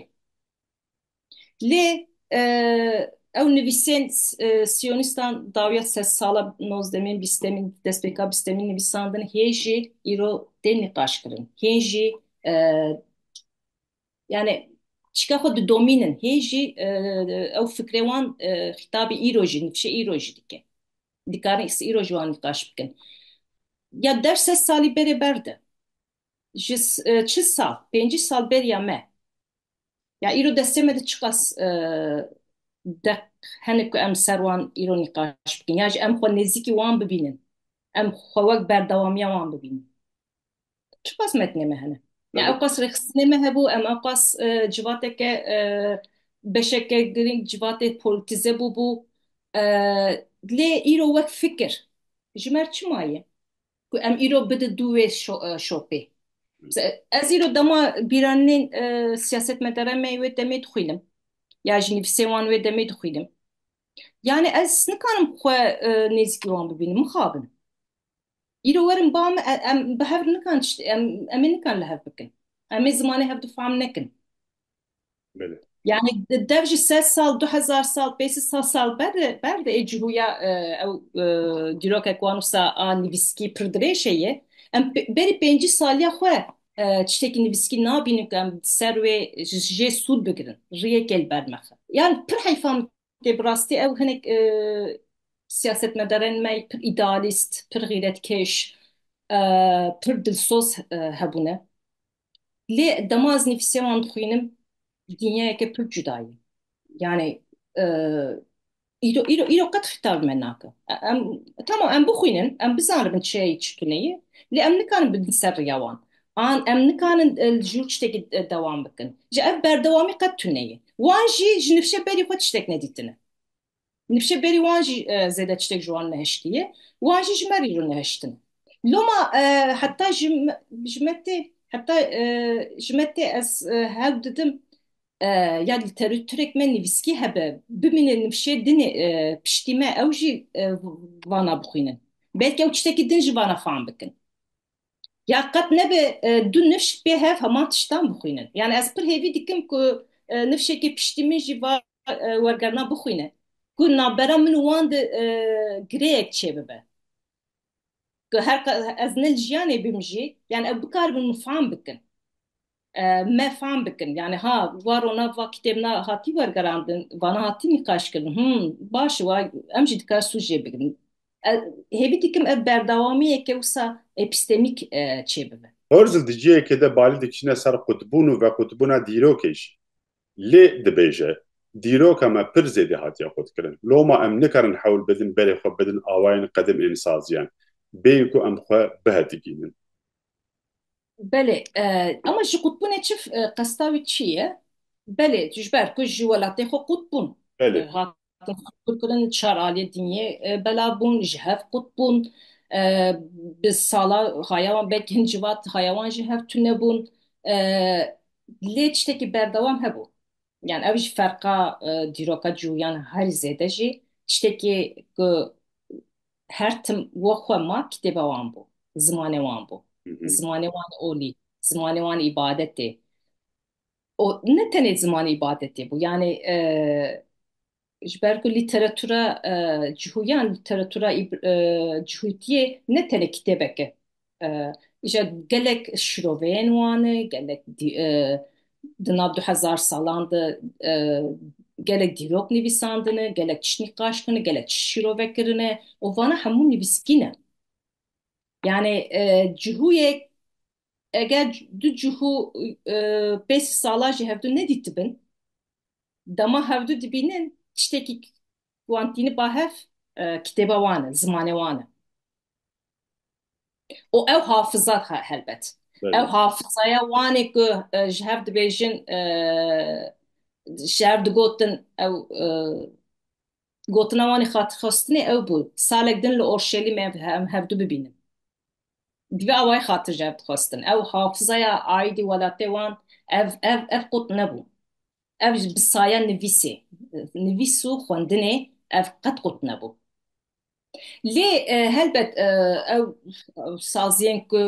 Lê e, ew nivîsên e, Siyonistan dawiya se sala nozdemîn, bîstemîn, destpêka bîstemîn nivîsandin hê jî îro tê nîqaşkirin. Hên jî e, Yani çika xwe didomînin hê jî e, ew fikrê wan e, xîtabî îro jî nifşê îro jî dike. Dikarin îs îro jî wan nîqaş bikin. Ya der sed salî berê berde. Ji s- e, çi sal, pêncî sal beriya me. Ya îro destê me de çiqas e, deq hene ku em ser wan îro nîqaş bikin. Ya jî em xwe nêzîkî wan bibînin. Em xwe wek berdewamiya wan bibînin. Çiqas metnê me hene. Ya ew qas rêxistinê me hebû, em ew qas e, civateke e, beşeke girîng civatê polîtize bûbû. E, Lê îro wek fikir ji mer çima ye ku em îro bidin dû wê şo- e, şopê? Mesela, Ez îro dema bîranên e, siyasetmedara me wê demê dixwînim. Ya ji nivîsê wan wê demê dixwînim. Yani ez nikarim xwe e, nêzîkî wan bibînim, mixabin. Îro werin ba min e- em bi hev nikan tişt em em ê nikan li hev bikin. Em ê zimanê hev difam nekin. Belê. Yani de- dev ji sed sal, du hezar sal, pê sî sal sal ber de ber de ê cihûya e, ew e, dîrokek wan wisa a nivîskî pir dirêj heye. Em pê- berî pêncî saliya xwe e, tiştekî nivîskî nabînin ku em di ser wê ji jê sûd bigirin. Riyekê li ber mexe. Yan pir heyfa min Lê bi rastî ew hinek siyasetmedarên me pir îdealîst, pir xîretkêş, pir dilsoz hebûne. Lê dema ez nivîsê wan dixwînim dinyayeke pir cuda ye. Yanî îro îro qet xîtab li me nake. Em tamam em bixwînin, em bizanibin çi ye çi tune ye. Lê em nikarin bidin ser riya wan. An em nikarin li jûr tiştekî dewam bikin. Ji ev berdewamî qet tune ye. Wan jî ji nifşe berî xwe tiştek nedîtine. Nifşe berî wan jî zêde tiştek ji wan nehiştiye. Wan jî ji me rîro nehiştin. Loma heta ji ji me tê heta ji me tê ez hewl didim ya lîteratûrek me nivîskî hebe bimîne nifşê dinê piştî me ew jî vana bixwînin. Belkî ew tiştekî din ji vana fam bikin. ya qet nebe du nifş pê hev heman tiştan bixwînin. Yani ez pir hêvî dikim ku nifşekê piştî min jî va wergerna bixwîne ku navbera min û wan de girêyek çêbibe. Ku her qas ez ne li jiyanê bim jî, yani ew bikaribin mifam bikin. me fam bikin. Yani ha va rona va kitêb na hatî wergerandin, vana hatî nîqaş kirin. Him, baş wa em jî dikar sûc jê bigrin. Hêvî dikim ev berdawamiyeke wisa epîstemîk çê bibe. Herzl di cihekê de balî dikişîne ser qutbûn û vequtbûna dîrokê jî. Lê dibêje, Dîroka me pir zêdî hatiye qutkirin. Loma em nikarin hewl bidin berê xwe bidin awayên qedim ên saziyan, bêyî ku em xwe bihetigînin. Belê, ema ji qutbûnê çi qesta wî çi ye? Belê, ji ber ku ji welatê xwe qut bûn. Belê. Hatin qutbûkirin çar aliyê diniyê bela bûn, ji hev qut bûn. Bi sala haya wan belkî hin civat haya wan jî hev tune bûn. Lê tiştekî berdewam hebû. Yani ev jî ferqa dîroka cûyan herî zêde jî tiştekî ku her tim we xwe ma kitêba wan bû, zimanê wan bû. Zimanê wan olî, zimanê wan îbadetê. O ne tenê zimanê îbadetê bû. Yanê e, ji ber ku lîteratura e, cihûyan, lîteratura îb- e, cihûtiyê ne tenê kitêbeke. Îja gelek şiroveyên wan e, gelek di nav du hezar salan de gelek dîrok nivîsandine, gelek tişt nîqaş kirine, gelek tişt şîrove kirine û vana hemû nivîskî ne. Yanî cihûyek eger du cihû pênc salan jî hevdu nedîtibin, dema hevdu dibînin tiştekî wan tîniba hev kitêba wan e, zimanê wan e. û ew hafiza helbet ew hafizaya wanê ku ji hev dibêjin ji hev digotin ew gotina wanê xatirxwestinê ew bû salek din li Orşelîmê ev hevdû bibînin bi vê awayî xatir ji hev dixwestin ew hafizaya aîdî welatê wan ev ev ev qut nebû ev ji bi saya nivîsê nivîs û xwendinê ev qet qut nebû. Lê helbet ew saziyên ku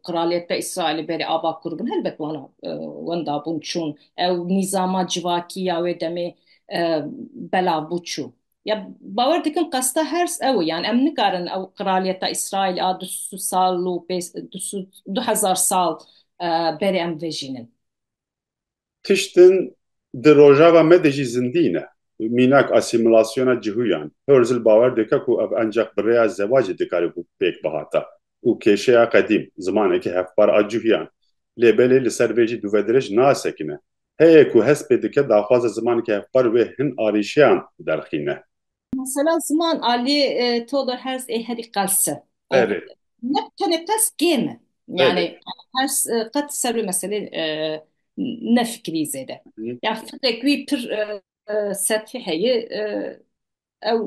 Qraliyeta Îsraîlê berê ava kur bûn helbet wana wenda bûn çûn. Ew nîzama civakî ya wê demê belav bû çû. Ya bawer dikim qesta hers ew e. Yan em nikarin ew Qraliyeta Îsraîlê a du sal û du hezar sal berê em vejînin. tiştin di rojava me de jî zindî ne. Mînak asîmîlasyona cihûyan. Herzl bawer dike ku ev enceq bi rêya zewacê dikarî bû pêk bihata û kêşeya qedîm, zimanekî hevpar a cihûyan. Lê belê li ser vê jî dûvedirêj nasekine. Heye ku hest pê dike daxwaza zimanekî hevpar wê hin arîşeyan derxîne. Mesela ziman alî to de hers ê herî qels e. Ov Berê. ne bi tenê qels kêm e. Berê. Yanî hers qet ser wê meselê e, ne fikirî zêde. Hı. Ya fikrek wî pir e, e, sethî heye e, ew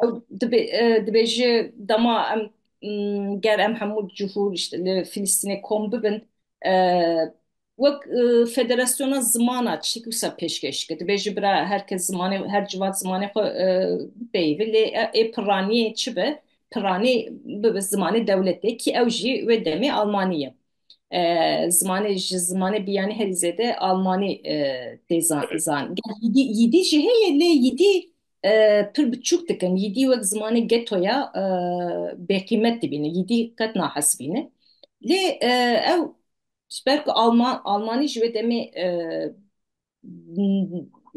ew dibê e, dibê ji dema em m, ger em hemû cihûr işte li Filistînê kom bibin e, Wek Federasyona Ziman a tiştekî wisa pêşkêş kir. Dibêje bira her kes zimanê her civat zimanê xwe bipeyivî lê ê pirraniyê çi be? Pirranî bibe zimanê dewletê kî ew jî wê demê almanî ye. Zimanê ji zimanê biyanî herî zêde almanî tê zanîn. Yîdî jî heye lê yîdî pir bi çûk dikin. Yîdî wek zimanê geto ya bêqîmet dibîne. Yîdî qet nahesibîne. Lê ew Ji ber ku Alman, Almanî ji wê demê e,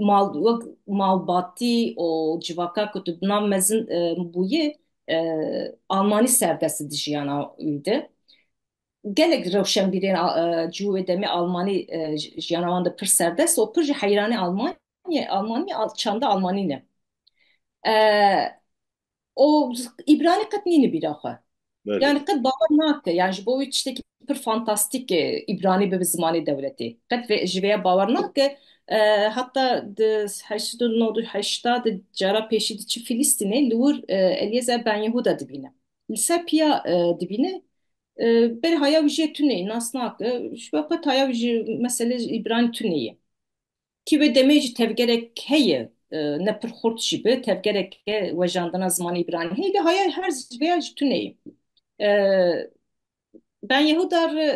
mal wek malbatî û civaka ku tu di nav mezin e, bûyî e, Almanî serdest di jiyana wî de. Gelek rewşenbîrên a- e, ji wê demê Almanî e, ji- jiyana wan de pir serdest û pir jî heyranî Alman Almanyê, Almanyê, al, çanda Almanî ne. Ee, o İbrani qet nîni bîra xwe. Belê. Yani qet bawer nake. Yani ji bo wî tiştekî pir fantastik e, İbrani bibe zimanê dewletê. Qet vê, ji vêya bawer nake. Ee, heta di 1898 di cara pêşî diçi Filîstînê li wir e, Eliezer Ben Yehuda dibîne. Li ser piya e, dibîne. E, berê haya wî jê tuneyî nas nake. Ji bo qet haya wî ji meselê ji İbrani tuneyî. Kî wê demê jî tevgerek heye ne pir xurt jî bi tevgereke wejandina zimanê îbranî heye lê haya her vêya ji tuneyê. Ben Yehuda re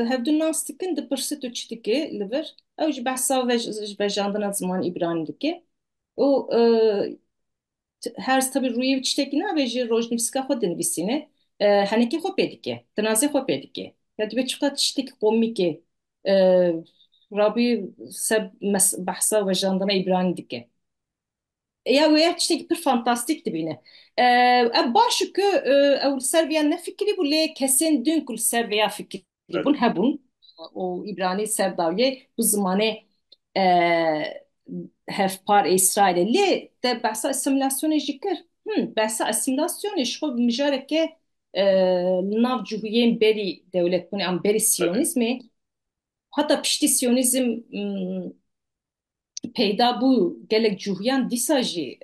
hevdu nas dikin dipirse tu çi dikê li vir ew jî behsa vejandina zimanê îbranî dike û Hers tabi rûyê wî tiştekî nabe ji rojnivîsika xwe dinivîsîne henekê xwe pê dike, tinazê xwe pê dike. Ya dibe çiqas tiştekî komîk e Rabî ser behsa wejandina Îbranî dike. Ya wê ya tiştekî pir fantastîk dibîne. Ev baş e ku ew li ser vê ya nefikirîbû lê kesên din ku li ser vê ya fikirîbûn. Hebûn hebûn û îbranî ser dawiyê bi zimanê hevpar ê Îsraîlê. Lê te behsa asîmîlasyonê jî kir. Him, behsa asîmîlasyonê ji xwe bi mijareke li nav cihûyên berî dewletbûnê an berî sîyonîzmê heta piştî sîyonîzm peyda bû gelek cûhîyan dîsa jî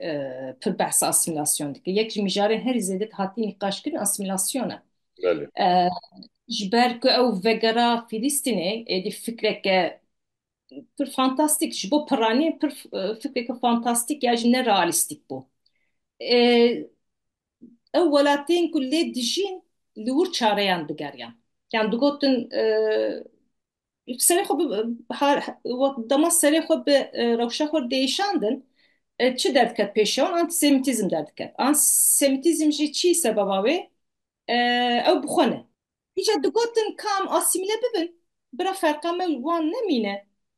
pir behsa asîmîlasyon dike. Yek ji mijarên herî zêde hatî nîqaş kirin asîmîlasyon e. Ji ber ku ew vegera Fîlîstînê êdî fikreke pir fantastîk ji bo piranî pir fikreke fantastîk ya jî ne realîstîk bû. Ew welatên ku lê dijîn li wir çareyan digeriyan. Yan digotin serê xwe bi har dema serê xwe bi e, rewşa xwe değişandin e, çi derdikeve pêşê wan antisemitîzm derdikeve. Antisemitîzm jî çi sebeba wê e, ew bi xwe ne. Îca digotin kam asîmîle bibin bira ferqa me û wan nemîne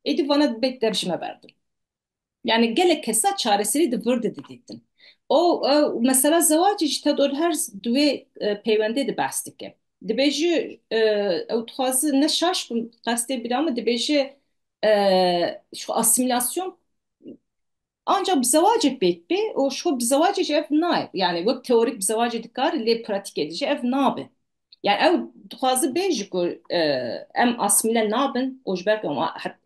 êdî vana dibê dev ji me berdin. Yani gelek kesa çareserî di vir de didîtin. O mesela zewacê jî Tedor Herz di wê e, peywendê de behs dike. Dibêje e, ew dixwaze ne şaş bin qestê bîra min dibêje e, şu asimilasyon ancak bi zewacê pêk bê û şu bi zewacê jî ev nayê. Yani wek teorik bi zewacê dikare lê pratikê de jî ev nabe. Yani ew dixwazi bê ji ku e, em asmile nabin û ji ber ku em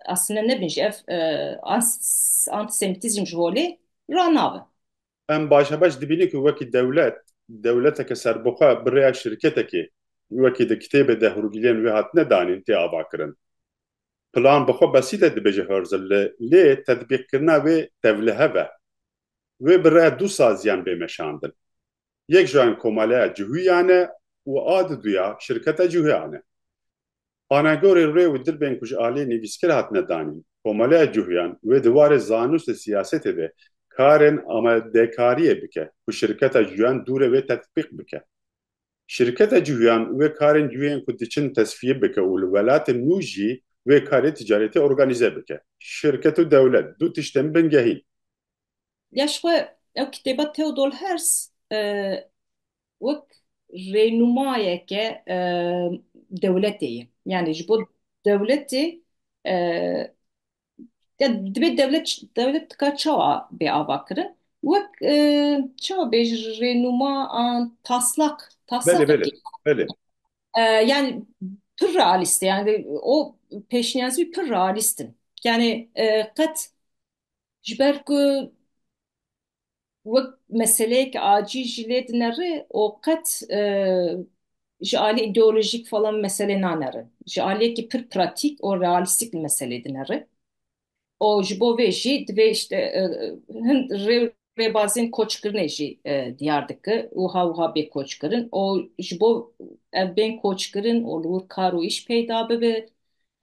asmile nebin jî ev e, antisemitîzm ji holê ranabe. Em baş e baş dibînin ku wekî dewlet, dewleteke serbixwe bi rêya şirketekê wekî di kitêbê de hûrgiliyên wê hatine danîn tê avakirin. Plan bi xwe besît e dibêje Herzl li lê tetbîqkirina wê tevlihev e. Wê bi rêya du saziyan bê meşandin. yek ji an Komaleya Cuhuyan e û a di duya Şirketa Cuhuyan e. Anagorê rê û dirbên ku ji aliyê nivîskir hatine danîn, Komaleya Cuhuyan wê di warê zanûst û siyasetê de karên amadekariyê bike ku Şirketa Cuhuyan dû re wê tetbîq bike. Şirketa Cuhuyan wê karên cuyên ku diçin tesfîye bike û li welatên nû jî wê karê ticaretî organîze bike. Şirket û dewlet du tiştên bingehîn. Ya ji xwe ew kitêba Theodor Herz e, wek rênûmayeke e, dewletê ye. Yani ji bo dewletê e, ya dibê dewlet dewlet dika çawa bê ava kirin wek e, çawa bê ji rênûma an taslak Belê taslakekî belê. Belê. e, yani pir realîst e. yani o pêşniyazî pir realîst in. Yani e, qet Ji ber ku wek meseleyek acî jî lê dinere û qet e, ji alî îdeolojîk falan meselê nanere. Ji aliyekî pir pratîk û realîstîk li meselê dinere. û ji bo vê jî divê işte e, hin rê û rêbazên koçkirinê jî e, diyar dike û ha wiha bê koçkirin û ji bo ev bên koçkirin û li wir kar û îş peyda bibe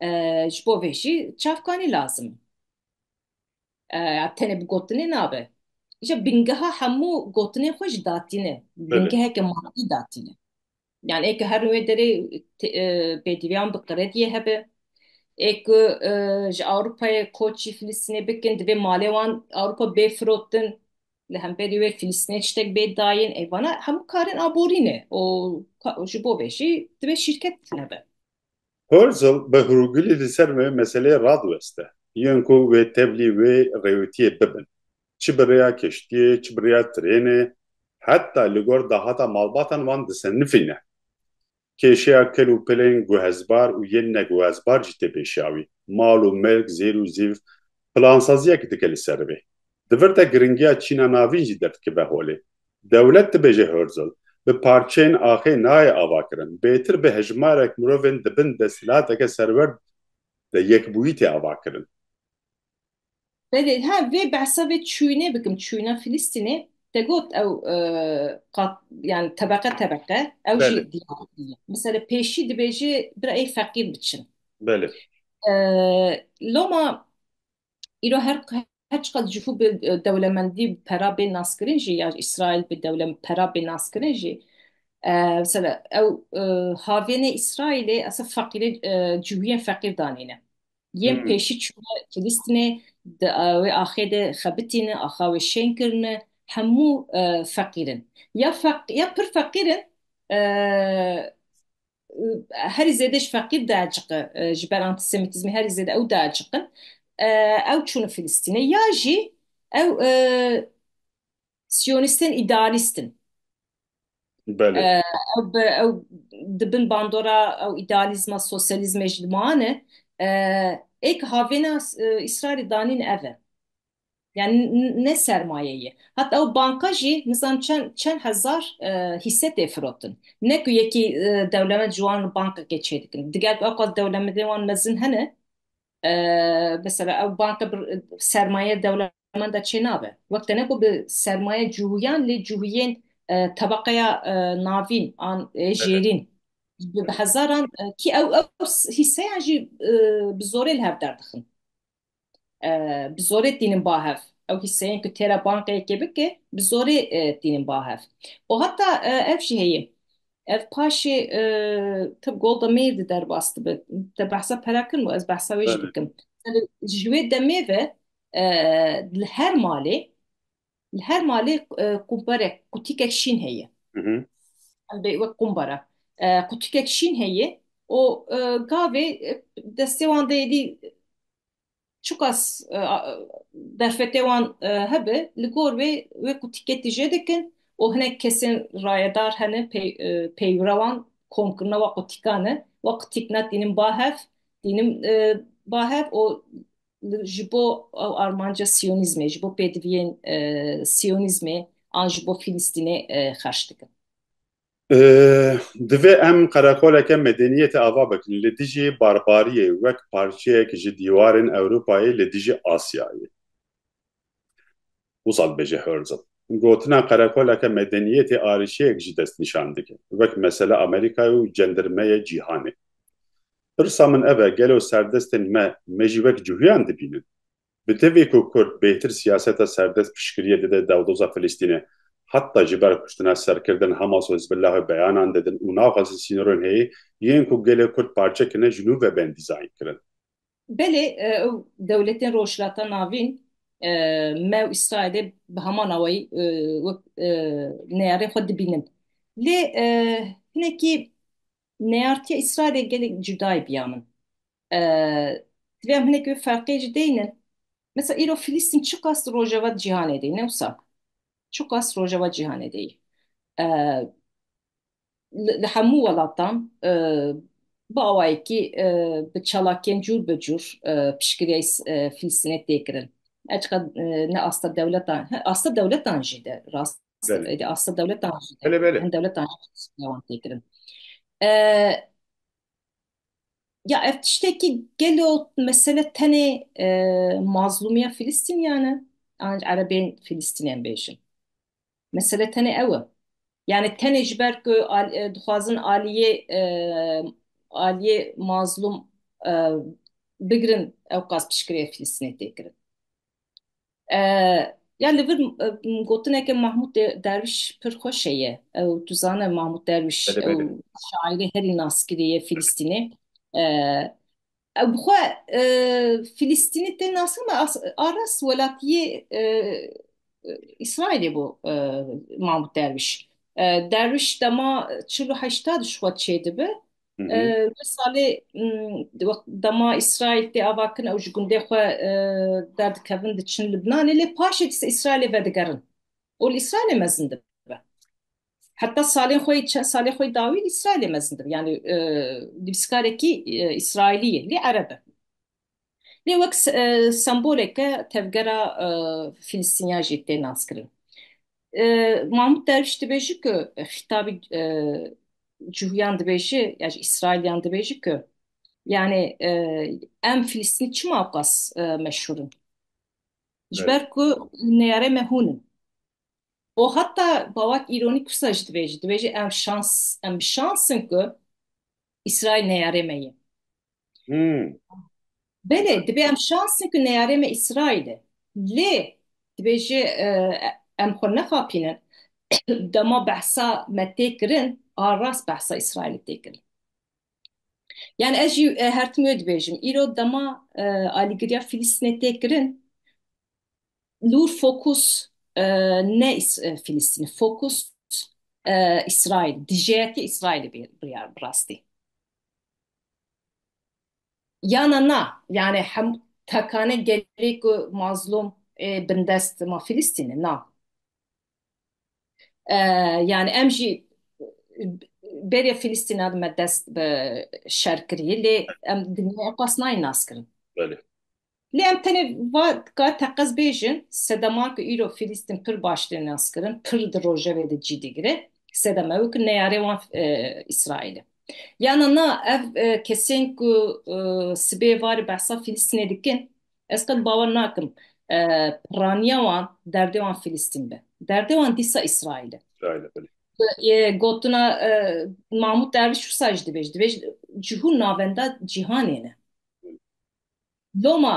e, ji bo vê jî çavkanî lazim e. ya tenê bi gotinê nabe. Îşe bingeha hemû gotinên xwe ji datîn e. Bingeheke madî datîn e. Yani ê ku her wê derê pêdiviyan bi qrediyê hebe, ê ku ji Ewropayê koçî Filistînê bikin divê malê wan Ewropa bê firotin, li hemberî wê Filistînê tiştek bê dayîn, ev vana hemû karên aborî ne û ji bo vê jî divê şîrket hebe. Herzl bi hurgulî li ser vê meseleyê radiweste. Yên ku wê tevlî wê rêwitiyê bibin, çi bi rêya keştiyê, çi bi rêya tirênê, heta li gor dahata malbatan wan disenifî ne. Kêşeya kel û pilên guhezbar û yên neguhezbar jî tê pêşiya wî. Mal û milk, zêr û zîv, plansaziyek dike li ser vê. Di vir de giringiya çîna navîn jî derdikibe holê. Dewlet dibêje Hörzel, bi parçeyên axê nayê avakirin, bêtir bi hejmarek mirovên di bin desthilateke serwerd de yekbûyî tê avakirin. Belê, ha vê behsa vê çûyinê bikim, çûyina Filistînê, te got ew qat yan tebeqe tebeqe, ew jî diyar bûye. Misele pêşî dibêje birayê feqîr biçin. Belê. Loma îro her her çiqad jû bi dewlemendî bi pera bê naskirin jî ya Îsraîl bi dewle pera bê naskirin jî mesela ew havênê Îsraîlê esa feqîrê cûyên feqîr danîne. Yên hmm. pêşî çûne Filîstinê di wê axê de xebitîne, axa wê şên kirine hemû feqîrin. Ya feq ya pir feqîrin herî zêde ji feqîr diaciqe ji ber antîsemîtîzmê herî zêde ew diaciqin ew çûn Filistînê ya jî ew siyonîstên îdealîst in ew di bin bandora ew îdealîzma sosyalîzmê jî dimane êk havêna Îsraîlî danîn ev e. Yani ne sermayeyê. Hat ew banka jî nizam çend çend hezar hîse tê firotin. Ne ku yekî dewlemend ji wan bankekê çêdikin. Diger bi ewqas dewlemendên wan mezin hene, mesela ew banka bi sermayeya dewlemend de çênabe. Wek tene ku bi sermayeya cihûyan lê cihûyên tebeqeya navîn an jêrîn bi hezaran kî ew ew hîseyan jî bi zorê li hev derdixin. bi zorê tînin ba hev. Ew hîseyên ku têra banka yekê bike bi zorê tînin ba hev. Û heta ev jî heye. Ev paşê tib Golda Meir di derbas dibe. Te behsa pera kirin û ez behsa wê jî dikim. Ji wê demê ve li her malê Li her malê qûmperek qutîkek şîn heye. Em bê wek qûmbara. Qutîkek şîn heye û gavê destê wan de êdî çiqas derfetê wan hebe li gor wê wê qutîkê tije dikin û hinek kesên rayedar hene pêyûra wan komkirina wa qutîkan e. Wa qutîk na tînim ba hev tînim ba hev û ji bo ew armanca siyonîzmê, ji bo pêdiviyên siyonîzmê an ji bo Filistînê xerç dikin. Divê em qereqoleke medeniyê tê ava bikin li dijî barbariyê wek parçeyek ji dîwarên Ewropayê li dijî Asyayê. Wisa dibêje Herzl, Gotina qerekoleke medeniyetê arîşeyek jî dest nîşan dike, wek mesele Amerîkayê û cendirmeyê cîhanê. Pirsa min ev e, gelo serdestên me, me jî wek cihûyan dibînin? Bi tevî ku kurd bêhtir siyaseta serdest piştgiriyê dide dewdoza Filistînê, heta ji ber kuştina serkirdin Hamas û Hizbillahê beyanan didin û naxwazin sînorên heyê yên ku gelê kurd parçe kine ji nû ve bên dîzaynkirin. Belê ew dewletên Rojhilata Navîn me û Îsraîlê bi heman awayî wek neyarên xwe dibînin. Lê hinekî neyartiya Îsraîlê gelek cuda ye biya min. Divê em hinekî wê ferqê jî deynin. Mesela îro Filistîn çiqas di rojeva cîhanê de yî ne wisa? Çiqas rojeva cîhanê de yî. li hemû welatan bi awayekî bi çalakiyên cûr bi cûr piştgiriya Fîlistînê tê kirin. Her çiqas ne asta dewletan, asta dewletan jî de rast e, asta dewletan jî de hin dewletan jî piştgiriya wan tê kirin. Ya ev tiştekî gelo mesele tenê mazlûmiya Fîlistîniyan e? An erebên Fîlistînê em bêjin. Mesele tenê ew e. Yani tenê ji ber ku dixwazin aliyê aliyê mazlum bigirin ew qas piştgirêya Filistînê tê kirin. Ya li vir gotineke Mahmûd Derwîş pir xweş heye. Ew tu zane Mahmûd Derwîş ew şairê herî naskirî yê Filistînê. Ew bi xwe Filîstînî tên nas kirin, me arast welatiyê Îsraîlê bû Mahmûd Derwîş. Derwîş dema çil û heşta di ji xwe çêdibe. Wê salê dema Îsraîl tê ava kirin ew ji gundê xwe derdikevin diçin Libnanê lê paşê di ser Îsraîlê vedigerin û li Îsraîlê mezin dibe. Heta salên xwe yê çend salê xwe yê dawî li Îsraîlê mezin dibin. Yanî nivîskarekî Îsraîlî ye lê ereb e. Lê wek semboleke tevgera Fîlistîniyan jî tê naskirin. Mahmûd Derwîş dibêje ku xîtabî cihûyan dibêje ya jî Îsraîlîyan dibêje ku yanî em Fîlistînî çima ewqas meşhûr in? Ji ber ku neyarê me hûn in. O heta bawak îronîk wisa jî dibêjî, dibêjî em şans em bi şans in ku Îsraîl neyarê me ye. Hmm. Belê dibê em şans in ku neyarê me Îsraîl e. Lê dibêjî e, em xwe nexapînin. Dema behsa me tê kirin, a rast behsa Îsraîlê tê kirin. Yani ez jî e, her tim wê dibêjim. Îro dema e, alîgiriya Filîstînê tê kirin, Lûr fokus ne Filistînê, fokus Îsraîl, dijeyeke Îsraîlê bê biryar bi rastî. Yana na, yanî hem tekane gelê ku mazlûm ê bindest ma Filistînê na. Yanî em jî beriya Filistîna dime dest bi şer kirî lê em dinyaya xwe nas nayên naskirin. Lê em tenê va ka teqez bêjin, sedeman ku îro Filîstîn pir baş tên naskirin, pir di rojevê de cî digire, sedem ew e ku neyarê wan Îsraîl e. Yana na, ev kesên ku sibê varê behsa Filîstînê dikin, ez qet bawer nakim pirraniya wan, derdê wan Filîstîn be. Derdê wan dîsa Îsraîl e. Îsraîl e, belê. Gotina Mahmûd Derviş wisa jî dibêje, dibêje ji hûn navenda cîhanê ne. Loma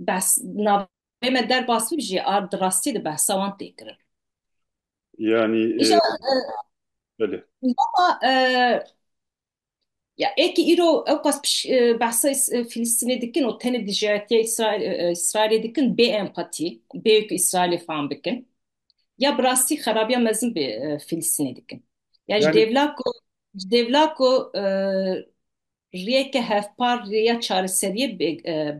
behs navê me der basîb jî a di rastî di behsa wan tê kirin. Yanî Îja belê. loma e, ya êkî îro ewqas piş e, behsa Îs- e, Fîlîstînê dikin û tenê dijayetiya Îsraîl- e, Îsraîlê dikin bê empatî, bê ku Îsraîlê fam bikin. Ya bi rastî xerabiya mezin bi e, Fîlîstînê dikin. Ya ji Yani- dêvla ku ji dêvla ku e, rêyeke hevpar rêya çareseriyê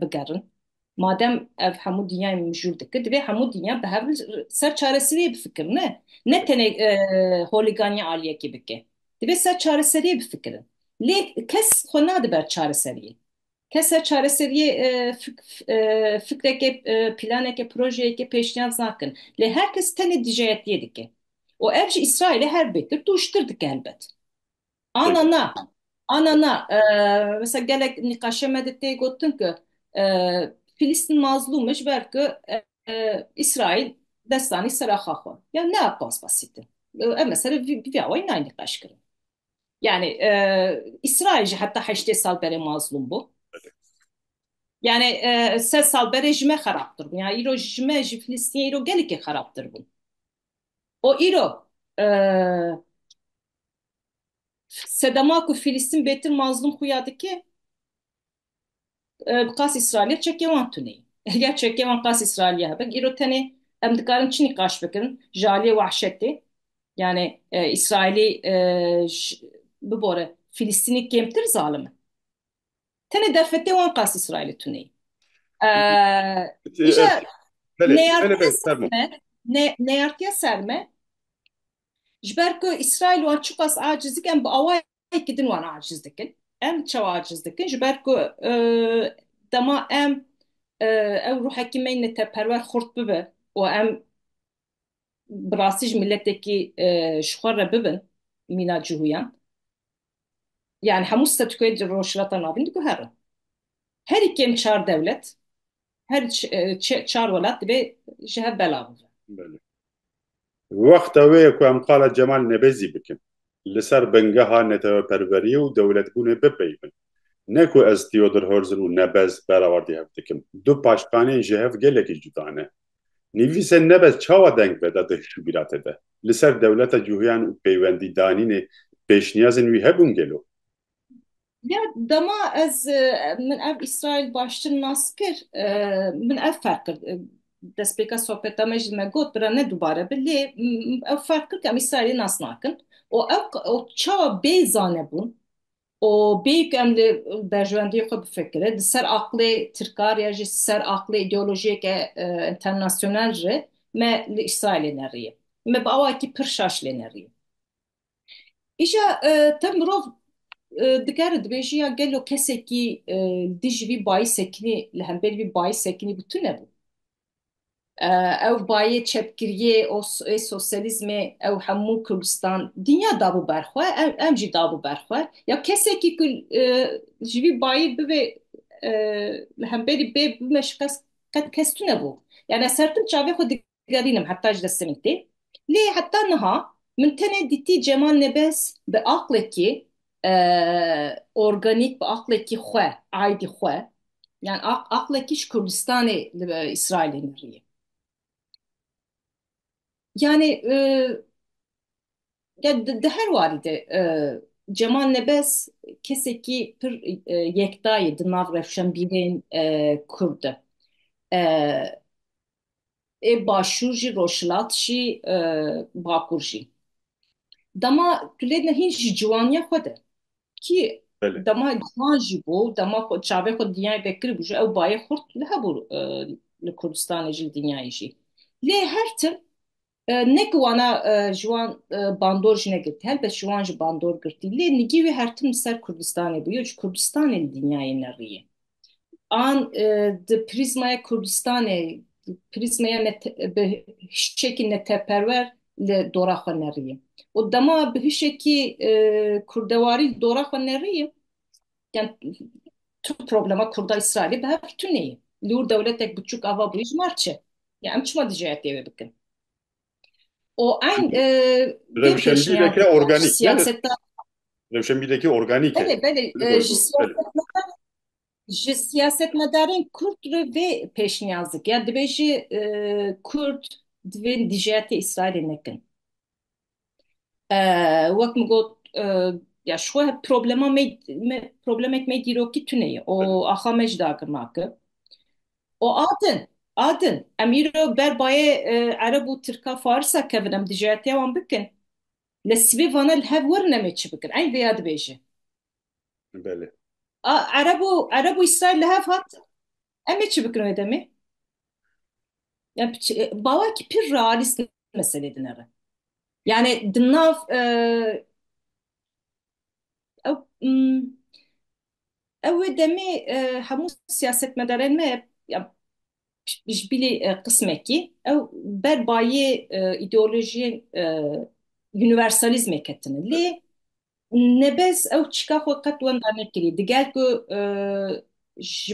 bigerin. Madem ev hemû dinyayê mijûl dikir, divê hemû dinya bi hev li ser çareseriyê bifikir ne ne tenê holîganiya aliyekê bike. Divê ser çareseriyê bifikirin. Lê kes xwe nade ber çareseriyê. Kes ser çareseriyê fikreke, planeke, projeyeke pêşniyaz nakin. Lê her kes tenê dijeyetiyê dike. Û ev ji Îsraîlê her bê kir tûştir dike helbet. Ana na, ana na, mesela gelek nîqaşe me de tê gotin ku Filîstîn mazlûm e ji ber ku Îsraîl destanî ser axa xwe. Ya ne pas basît e. Em li ser vî awayî nayê nîqaş kirin. Yani e, İsrail jî heta heştê sal berê mazlum bû. Yani e, sed sal berê ji me xerabtir bû. Yani îro ji me ji Filistînê îro gelekê xerabtir bûn. O îro e, Sedema ku Fîlîstin bêtir mazlûm xuya dike, bi qas Îsraîlê çekê wan tune ye. Eger çekê wan qas Îsraîlî ya hebe, îro tenê em dikarin çi nîqaş bikin ji aliyê wahşetê? Yanî Îsraîlî ji bibore Fîlîstinî kêmtir zalim in? Tenê derfetê wan qas Îsraîlê tune ye. Îja neyartiya ser me, neyartiya ser me, Ji ber ku Îsraîl wan çiqas aciz dikin, em bi awayekî din wan aciz dikin. Em çawa aciz dikin? Ji ber ku dema em ew ruhekî me neteperwer xurt bibe û em bi rastî ji miletekî ji xwe re bibin mîna cihûyan, yani hemû statûkoyên di Rojhilata Navîn de guherin. Herî kêm çar dewlet, her çar welat divê ji hev belav bibe. Belê. Wexta wê ye ku em qala Cemal Nebezî bikin. Li ser bingeha neteweperweriyê û dewletbûnê bipeyivin. Ne ku ez Theodor Herzl û Nebez berawardî hev dikim. Du paştganên ji hev gelekî cuda ne. Nivîsên Nebez çawa deng veda di hişûbîratê de? Li ser dewleta cûhîyan û peywendîdanînê pêşniyazên wî hebûn gelo? Ya dema ez min ev Îsraîl baştir nas kir, min ev ferq kir, destpêka sohbeta me jî me got, bira ne dubare be lê ew ferq kir ku em Îsraîlê nas nakin û ew çawa bê zanebûn Û bêyî ku em li berjewendiyê xwe bifikirin, di ser aqilê tirkar ya jî ser aqilê îdeolojiyeke înternasyonal re me li Îsraîl lê neriye. Me bi awayekî pir şaş lê neriye. Îja te mirov dikare dibêjî ya gelo kesekî li dijî vî bayîsekinî, li hemberî vî bayîsekinî bû tune bû? ew bayê çepkiriyê û ê sosyalîzmê ew hemû Kurdistan, dinya dabû ber xwe, em jî dabû ber xwe. Ya kesekî ku ji vî bayê bivê li hemberî bê bime şikest qet kes tune bû. Ya ez her tim çavê xwe digerînim heta ji dest Semîtê. Lê heta niha min tenê dîtî Cemal Nebez bi aqlekî organîk bi aqlekî xwe, aydî xwe yan aqlekî ji Kurdistanê li Îsraîlê mirî. Yanî di her warî de Cemal Nebez kesekî pir yekta ye di nav rewşenbîrên Kurd de. ê başûr jî rojhilat jî bakur jî dema tu lê ne hîn jî ciwaniya xwe de kî dema ciwan jî bû dema xwe çavê xwe dinyayê de kiribû jî ew bayê xurt li hebû li Kurdistanê jî li dinyayê jî lê her tim ne ku wana ciwan bandor jî negirtî helbet ciwan jî bandor girtî lê nigî wî her tim li ser Kurdistanê bû yo ji Kurdistanê li dinyayê ne rî ye. an di prîzmaya Kurdistanê, prîzmaya bi hişekî neteperwer li dora xwe neriyê. Û dema bi hişekî kurdewarî li dora xwe neriyê, yan tu problema Kurda Îsraîlî bi hev tune ye. Li wir dewletek biçûk ava bûye ji mar çi? Yan em çima dijî etê wê bikin? O eyn e, rewşenbîreke organîk ne? siyaseta Rewşenbîrekî organîk e. belê belê Li e, gor ji gor, belê. siyasetmedar ji siyasetmedarên Kurd re vê pêşniyaz dikin. Yani divê jî e, Kurd divê dijiyatê İsrailê nekin. E, wek min got e, ya ji xwe problema me, me problemek me dîrokî tune ye. O axa me ji dagir nake. O atin, atin. Em îro ber bayê ereb û tirka farisa kevin em dijiyatiya wan bikin. Li sibê vana li hev werin em ê çi bikin. Eyn vêya dibêje. Belê. A ereb û ereb û îsraîl li hev hatin. Em ê çi bikin wê demê? Em bawakî pir realîst meselê dine re. Yani di nav ew Ew wê demê hemû siyasetmedarên me ji bilî qismekî ew ber bayê îdeolojiyên universalîzmê ketine. Lê nebez ew çîka xwe qet wenda nekiriye. Diger ku ji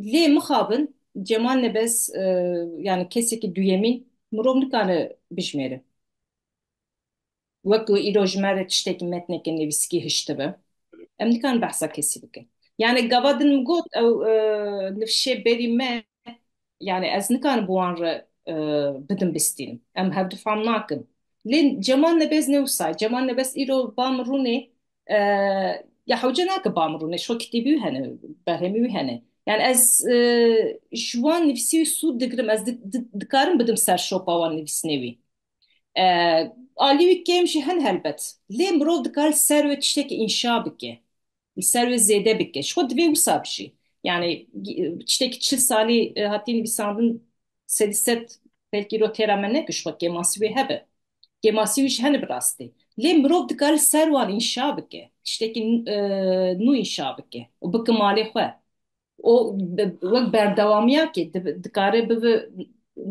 Lê mixabin Cemal Nebez yani kesekî duyemîn mirov nikare bijimêre. Wek ku îro ji me re tiştekî metneke nivîskî hiştibe em nikarin behsa kesî bikin. Yani gava din min got ew nivşê berî me yani ez nikarim bi wan re bidim bistînim. Em hevdu fam nakin. Lê Cemal Nebez ne wisa ye. Cemal Nebez îro ba min rûnê ya hewce nake bam rûne şo kitêbî wî hene berhemî wî hene yani ez ji wan nivîsî wî sûd digirim ez dikarim bidim ser şopa wan nivîsnê wî alî wî kêm jî hin helbet lê mirov dikare li ser wê tiştekî înşa bike li ser wê zêde bike ji xwe divê wisa bijî yani tiştekî çil salî hatiye nivîsandin sedî sed belkî rotêra me nekir ji xwe kêmansî wê hebe kêmasî wî jî hene bi rastî. Lê mirov dikare ser wan înşa bike, tiştekî nû înşa bike û bike malê xwe û wek berdewamiyakê dikare bibe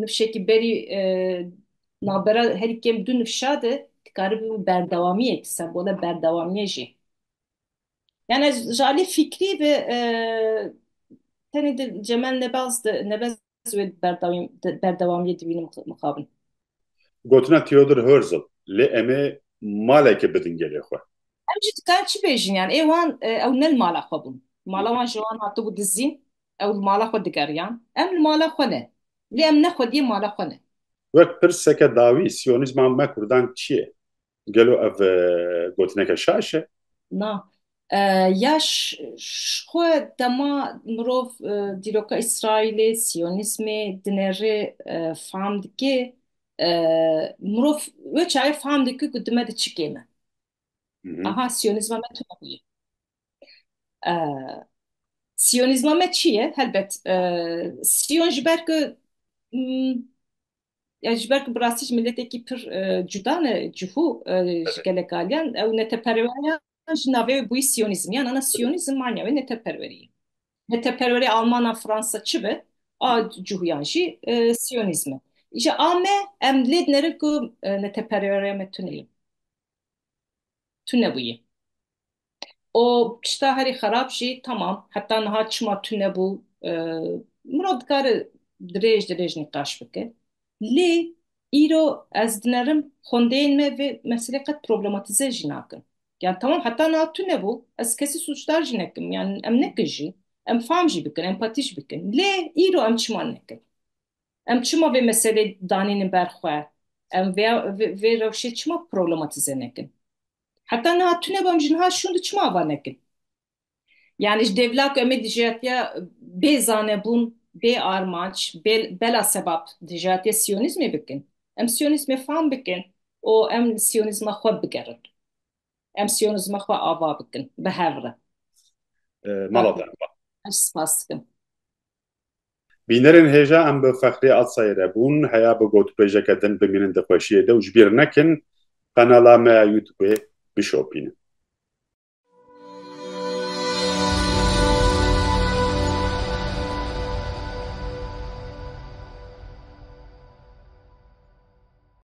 nifşekî berî navbera herî kêm du nifşa de dikare bibe berdewamiyek, sembola berdewamiye jî. Yan ez ji aliyê fîkrî ve tenê di Cemel Nebaz de, Nebez ez wê bi berdewamiyê dibînim mixabin. Gotina Theodor Herzl, lê em ê malekê bidin gelê xwe. Em jî dikarin çi bêjin yan ê wan ew ne li mala xwe bûn. Mala wan ji wan hatibû dizîn, ew li mala xwe digeriyan. Em li mala xwe ne, lê em ne xwediyê mala xwe ne. Wek pirseke dawî, Siyonîzma me Kurdan çi ye? Gelo ev gotineke şaş e? Na. Ya xwe dema mirov dîroka Îsraîlê, Siyonîzmê dinerê fam dike, mirov wê çaye fam dike ku dime di çi kêm e. Aha Siyonîzma me tune bûye. Siyonîzma me çi ye? Helbet Siyon ji ber ku ya ji ber ku bi rastî ji miletekî pir e, cuda ne cihû e, ji gelek aliyan ew neteperweriyan ji navê wê bûyî siyonîzm yan ana siyonîzm manya wê neteperweriyê neteperwerê almana fransa çi be a cihûyan jî e, siyonîzm e ji ame em lê dinerin ku e, neteperweriya me tune ye tu nebûyî û tişta herî xerab jî temam heta niha çima tune bû mirov dikare dirêj dirêj nîqaş bike lê îro ez dinerim xwendeyên me vê meselê qet problematîze jî nakin yan temam heta niha tune bû ez kesî sûcdar jî nekim yan em nekin jî em fam jî bikin empatî jî bikin lê îro em çima nekin em çima vê meselê danînin ber xwe em vê vê rewşê çima problematîze nekin. Heta niha tu nebam ji niha şûn di çima ava nekin? Yani ji devla ku em ê dijatiya bê zanebûn, bê armanc, bê bela sebab dijatiya siyonîzmê bikin. Em siyonîzmê fam bikin û em li siyonîzma xwe bigerin. Em siyonîzma xwe ava bikin bi hev re. Mala te. Ev spas dikim. Bînerên hêja em bi Fexrî Atsayê re bûn, heya bi gotûbêjeke din bimînin di xweşiyê de û ji bîr nekin qenala me ya youtubê bişopînin.